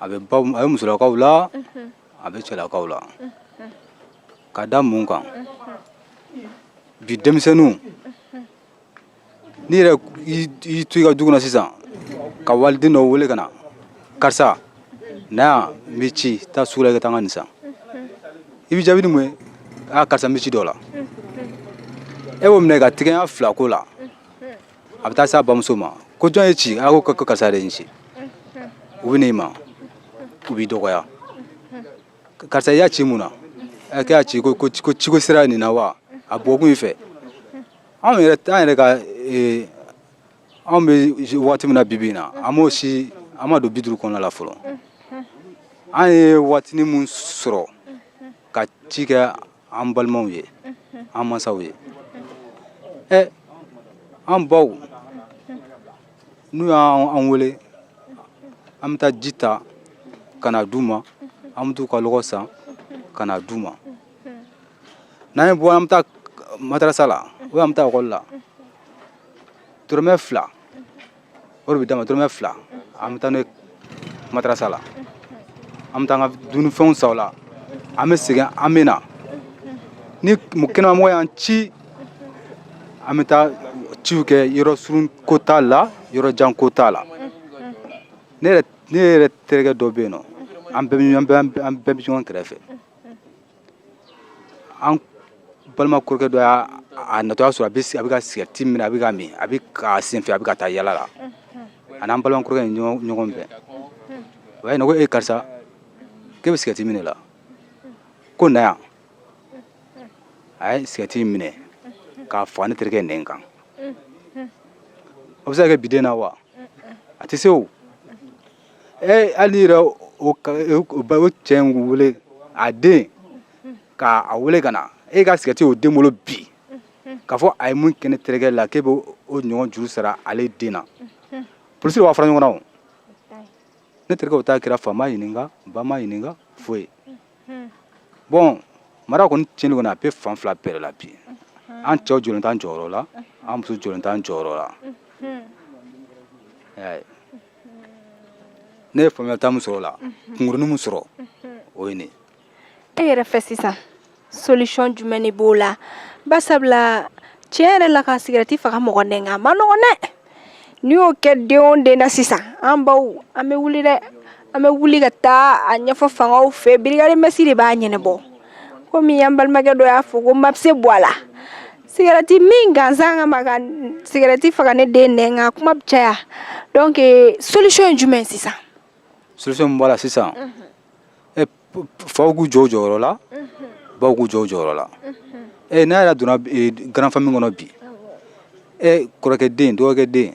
a bɛ baw a bɛ musolakaw la a bɛ cɛlakaw la ka da mun kan bi denmisɛnninw n'i yɛrɛ y'i to i ka du kɔnɔ sisan ka waliden dɔ wele ka na karisa na yan n b'i ci taa sugu la i ka taa n ka nin san a b'i jaabi ni mun ye aa karisa n bɛ ci dɔ la e b'o minɛ ka tigɛya fila ko la a bɛ taa s'a bamuso ma ko jɔn y'i ci a ko karisa de ye n ci u bɛ n'i ma u b'i dɔgɔya karisa i y'a ci mun na ɛ k'e y'a ci ko ko ko ciko sira ye nin na wa a bɔkun i fɛ anw yɛrɛ an yɛrɛ ka ee, anw bɛ waati min na bibi in na an ma se an ma don bi duuru kɔnɔna la fɔlɔ an ye waatinin mun sɔrɔ ka ci kɛ an balimaw ye an masaw ye ɛ an baw n'u y'an wele an bɛ taa ji ta ka na d'u ma an bɛ t'u ka lɔgɔ san ka na d'u ma n'an bɛ bɔ an bɛ taa madarasa la ou an bɛ taa ekɔli la dɔrɔmɛ fila o de bɛ d'an ma dɔrɔmɛ fila an bɛ taa n'o ye madarasa la an bɛ taa an ka dumunifɛnw san o la an bɛ segin an bɛ na ni mu- kɛnɛmamɔgɔ y'an ci an bɛ taa ciw kɛ yɔrɔ surun ko t'a la yɔrɔ jan ko t'a la ne yɛrɛ ne yɛrɛ terikɛ dɔ bɛ yen nɔ an bɛɛ bɛ ɲɔgɔn- an bɛɛ an bɛɛ bɛ ɲɔgɔn kɛrɛfɛ an balima kɔrɔkɛ dɔ y'a a natɔ y'a sɔrɔ a bɛ a bɛ ka sigɛriti min a bɛ k'a min a bɛ k'a senfɛ a bɛ ka taa yala la a n'an balima kɔrɔkɛ ye ɲɔgɔn ɲɔgɔn bɛn o y'a ɲininka ko e karisa k'e bɛ sigɛriti min de la ko na yan a ye sigɛriti in minɛ k'a faga ne terikɛ nɛn kan o bɛ se ka kɛ bi den na wa a tɛ se o ee hali n'i yɛrɛ o cɛ in wele a den k'a wele ka na e ka sigɛriti o den bolo bi k'a fɔ a ye mun kɛ ne terikɛ la k'e bɛ o ɲɔgɔn juru sara ale den na polisi b'aw fara ɲɔgɔn na o ne terikɛ o ta kɛra fa ma ɲininka ba ma ɲininka foyi bɔn mara kɔni tiɲɛni kɔni a bɛ fan fila bɛɛ de la bi an cɛw jɔlen t'an jɔyɔrɔ la an muso jɔlen t'an jɔyɔrɔ la ne ye faamuya ta min sɔrɔ o la kunkurunin min sɔrɔ o ye nin ye e yɛrɛ fɛ sisan solution jumɛn de b'o la basabula tiɲɛ yɛrɛ la ka sigɛrɛti faga mɔgɔ den na a man nɔgɔn dɛ n'i y'o kɛ den o den na sisan an baw an bɛ wuli dɛ an bɛ wuli ka taa a ɲɛfɔ fangaw fɛ brigade mœurs de b'a ɲɛnabɔ komi an balimakɛ dɔ y'a fɔ ko maa bɛɛ sen b'a la Sigɛrɛti min gansan kama ka sigɛrɛti faga ne den na nka kuma bɛ caya donc solution ye jumɛn sisan solution b'o la sisan faw k'u jɔ u jɔyɔrɔ la baw k'u jɔ u jɔyɔrɔ la ɛ n'a yɛrɛ donna grande famille kɔnɔ bi e kɔrɔkɛ den dɔgɔkɛ den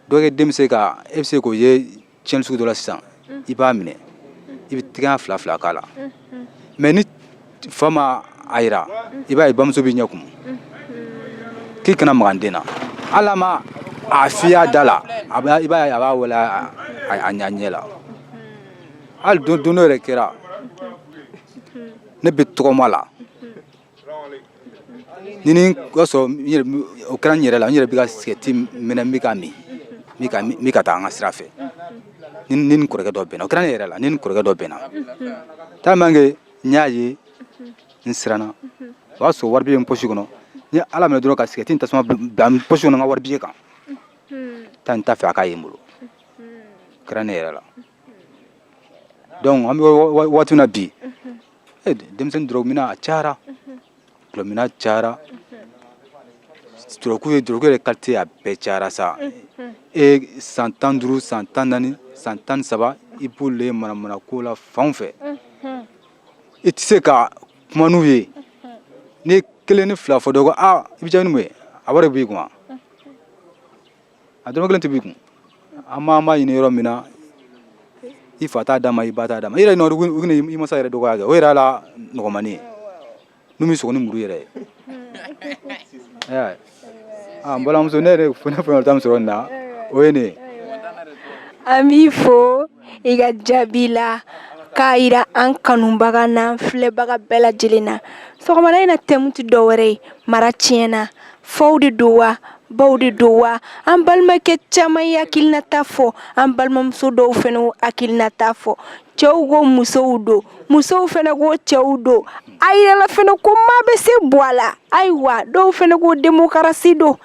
dɔgɔkɛ den bɛ se k' e bɛ se k'o ye tiɲɛni sugu dɔ la sisan i b'a minɛ i bɛ tɛgɛ ɲɛ fila fila k'a la mais ni fa ma a yira i b'a ye bamuso b'i ɲɛ kumu k'i kana magan den na hali a ma a fiya da la a b'a- i b'a ye a b'a wele a a- a ɲɛ ɲɛ la hali don don dɔ yɛrɛ kɛra ne bɛ tɔgɔma la ni ni ka sɔrɔ o kɛra n yɛrɛ la n yɛrɛ bɛ ka sigɛti min n bɛ ka min n bɛ ka taa an ka sira fɛ n ni n kɔrɔkɛ dɔ bɛnna o kɛra ne yɛrɛ la n ni n kɔrɔkɛ dɔ bɛnna tellement que n y'a ye n siranna o y'a sɔrɔ wari bɛ n posi kɔnɔ n ye ala minɛ dɔrɔn ka sigɛti ni tasuma bila n posi kɔnɔ n ka wari bɛɛ kan n t'a fɛ a k'a ye n bolo o kɛra ne yɛrɛ la donc an bɛ waati min na bi eh, denmisɛnnin dɔrɔgu minna cayara dɔrɔgu minna cayara dɔrɔgu ye dɔrɔgu yɛrɛ kalite a bɛɛ cayara sa e san tan ni duuru san tan naani san tan ni saba i b'olu ye manamana ko la fan fɛ i tɛ se ka kuma n'u ye n'i kelen ni fila fɔ dɔ ko aa i bɛ jaabi ni mun ye a wari b'i kun wa a dɔrɔmɛ kelen tɛ b'i kun an m'an b'a ɲini yɔrɔ min na i fa t'a d'a ma i ba t'a d'a ma i yɛrɛ nɔ u bɛna i masa yɛrɛ dɔgɔya kɛ o yɛrɛ la nɔgɔmani ye n'u m'i sɔgɔ ni muru yɛrɛ ye Ayiwa. Ah, n balimamuso ne yɛrɛ fana fana bɛ ta min sɔrɔ nin na o ye nin ye an b'i fo i ka jaabi la k'a jira an kanubaga na filɛbaga bɛɛ lajɛlen na sɔgɔma in na thème tɛ dɔwɛrɛ ye mara tiɲɛna na faw de don wa baw de don wa an balimakɛ caman y'u hakilinata fɔ an balimamuso dɔw fana y'u hakilinata fɔ cɛw ko musow don musow fana ko cɛw don a yɛlɛ fana ko maa bɛɛ sen b'a la ayiwa dɔw fana ko demokarasi don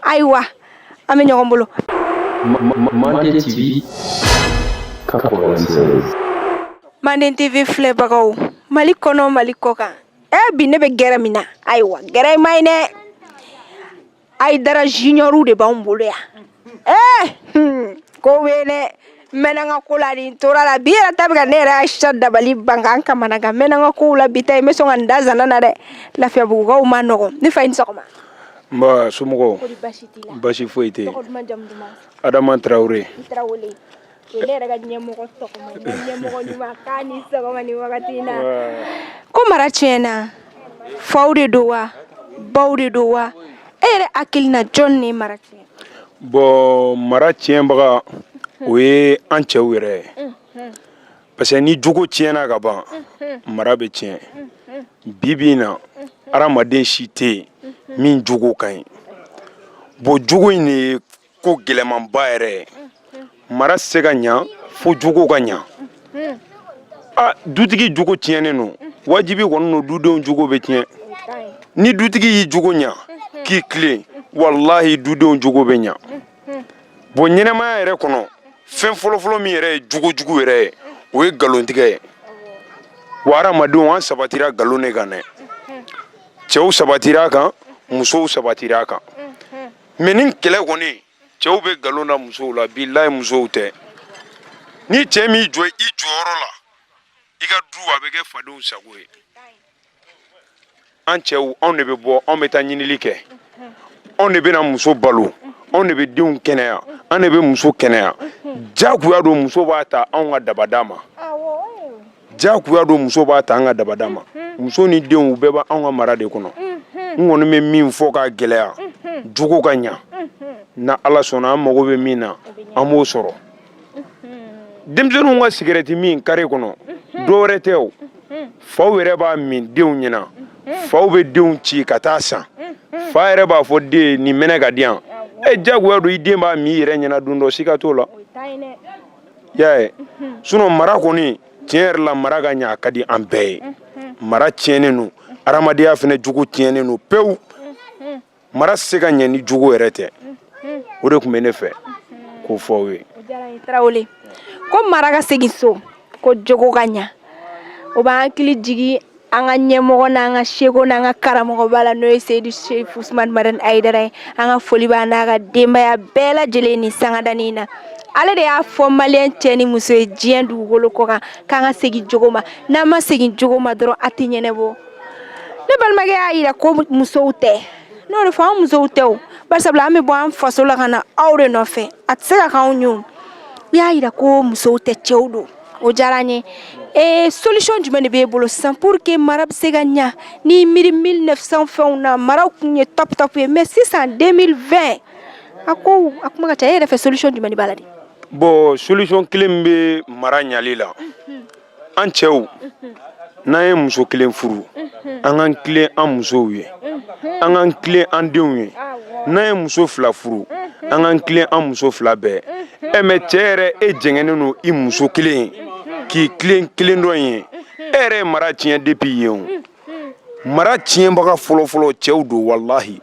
ayiwa an bɛ ɲɔgɔn bolo manden tv manden tv filɛbagaw mali kɔnɔ mali kɔkan ɛ eh, bi ne bɛ gɛrɛ min na ayiwa gɛrɛ ma ye dɛ ayidara juniɔrw de b'anw bolo yan ɛ eh, hmm, ko bɛ dɛ mɛnanga ko la nin tora la bi yɛrɛ ta bɛ ka ne yɛrɛ ayisa dabali bankan kamana kan mɛnanga kow la bi ta n bɛ sɔn ka n da zanna na dɛ lafiyabugukaw ma nɔgɔ ne fa i ni sɔgɔma nba somɔgɔw basi foyi tɛ adama tarawele ne yɛrɛ ka ɲɛmɔgɔ tɔgɔma ɲɛmɔgɔ ɲuman k'a ni sɔgɔma ni wagati in na ko mara tiɲɛna faw de don wa baw de don wa e yɛrɛ hakili na jɔn ne mara tiɲɛ bɔn mara tiɲɛbaga o ye an cɛw yɛrɛ ye parce que ni jogo tiɲɛna ka ban mara bɛ tiɲɛ bi bi in na adamaden si tɛ yen min jogo ka ɲi bɔn jogo in de ye ko gɛlɛmanba yɛrɛ ye mara se ka ɲa fo jogo ka ɲa a dutigi jogo tiɲɛnen don wajibi kɔni don dudenw jogo bɛ tiɲɛ ni dutigi y'i jogo ɲa k'i tilen walahi dudenw jogo bɛ ɲa bon ɲɛnamaya yɛrɛ kɔnɔ fɛn fɔlɔfɔlɔ min yɛrɛ ye jogojugu yɛrɛ ye o ye nkalontigɛ ye wa hadamadenw an sabatira nkalon de kan dɛ cɛw sabatira a kan musow sabatira a kan mɛ ni kɛlɛ kɔni cɛw bɛ nkalon da musow la bilayi musow tɛ ni cɛ m'i jɔ i jɔyɔrɔ la i ka du a bɛ kɛ fadenw sago ye an cɛw anw de bɛ bɔ anw bɛ taa ɲinili kɛ anw de bɛna muso balo anw de bɛ denw kɛnɛya an de bɛ muso kɛnɛya jagoya don muso b'a ta anw ka dabada ma jagoya don muso b'a ta an ka dabada ma muso ni denw bɛɛ b' anw ka mara de kɔnɔ n kɔni bɛ min fɔ ka gɛlɛya jogo ka ɲa n'ala sɔnna an mago bɛ min na an b'o sɔrɔ denmisɛnninw ka sigirɛti min kare kɔnɔ dɔwɛrɛ tɛ u faw yɛrɛ b'a min denw ɲɛna faw bɛ denw ci ka taa a san fa yɛrɛ b'a fɔ den nin mɛnɛ k'a di yan e jagoya don i den b'a min i yɛrɛ ɲɛna don dɔ siga t'o la y'a sunɔ mara kɔni tiɲɛ yɛrɛ la mara ka ɲa a ka di an bɛɛ ye mara tiɲɛnen don adamadenya fana jogo tiɲɛnen don pewu mara se ka ɲɛ ni jogo yɛrɛ tɛ o de tun bɛ ne fɛ k'o fɔ aw ye tarawele ko mara ka segin so ko jogo ka ɲa o b'an hakili jigin an ka ɲɛmɔgɔ n'an ka seku n'an ka karamɔgɔba la n'o ye seyidu serifu usumani madani ayidara ye an ka foli b'a n'a ka denbaya bɛɛ lajɛlen ni sangadani in na ale de y'a fɔ maliyɛn cɛ ni muso ye diɲɛ dugukolo kɔ kan k'an ka segin jogo ma n'an ma segin jogo ma dɔrɔn a tɛ ɲɛnabɔ ne balimakɛ y'a jira ko musow tɛ n'o de fɔ an musow tɛ o bari sabula an bɛ bɔ an faso la ka na aw de nɔfɛ a tɛ se ka k'anw ye o u y'a jira ko musow tɛ cɛw don o diyara n ye ee solution jumɛn de b'e bolo sisan pour que mara bɛ se ka ɲa n'i miiri 1900 fɛnw na maraw tun ye top top ye mais sisan 2020 a ko a kuma ka ca e yɛrɛ fɛ solution jumɛn de b'a la dɛ bon solution kelen min bɛ mara ɲali la an cɛw n'an ye muso kelen furu an k'an tilen an musow ye an k'an tilen an denw ye n'an ye muso fila furu an k'an tilen an muso fila bɛɛ ye mɛ cɛ yɛrɛ e jɛngɛnnen don i muso kelen k'i tilen kelen dɔ ye e yɛrɛ ye mara tiɲɛ depi yen o mara tiɲɛbaga fɔlɔfɔlɔ cɛw don walahi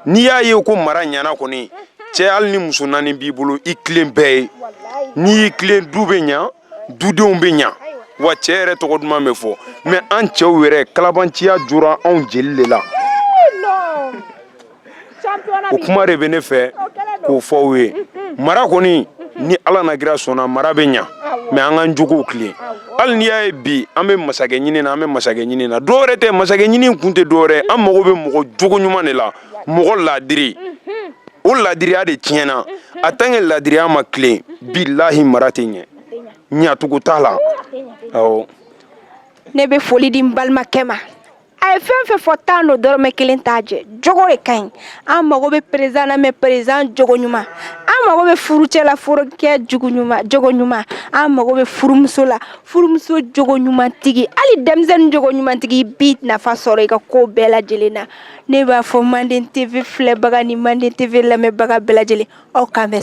n'i y'a ye ko mara ɲana kɔni cɛ hali ni muso naani b'i bolo i tilen bɛɛ ye n'i y'i tilen du bɛ ɲa dudenw bɛ ɲa wa cɛ yɛrɛ tɔgɔ duman bɛ fɔ mɛ an cɛw yɛrɛ kalabanciya jora anw jeli de la o kuma de bɛ ne fɛ k'o fɔ aw ye mara kɔni ni ala n'a kira sɔnna mara bɛ ɲa mɛ an k'an jogow tilen hali n'i y'a ye bi an bɛ masakɛ ɲini na an bɛ masakɛ ɲini na dɔwɛrɛ tɛ masakɛ ɲini kun tɛ dɔwɛrɛ an mago bɛ mɔgɔ jogo ɲuman de la mɔgɔ laadiri o laadiriya de tiɲɛna a tant que laadiriya ma tilen bilahi mara tɛ ɲɛ ɲacogo t'a la ne bɛ foli di balimakɛ ma a ye fɛn fɛn fɔ tan don dɔrɔmɛ kelen t'a jɛ jogo de ka ɲi an mago bɛ perezidan na mɛ perezidan jogo ɲuman an mago bɛ furucɛ la furukɛ jogo ɲuman an mago bɛ furumuso la furumuso jogo ɲumantigi hali denmisɛnnin jogo ɲumantigi bi nafa sɔrɔ i ka ko bɛɛ lajɛlen na ne b'a fɔ manden tv filɛbaga ni manden tv lamɛnbaga bɛɛ lajɛlen aw k'an bɛn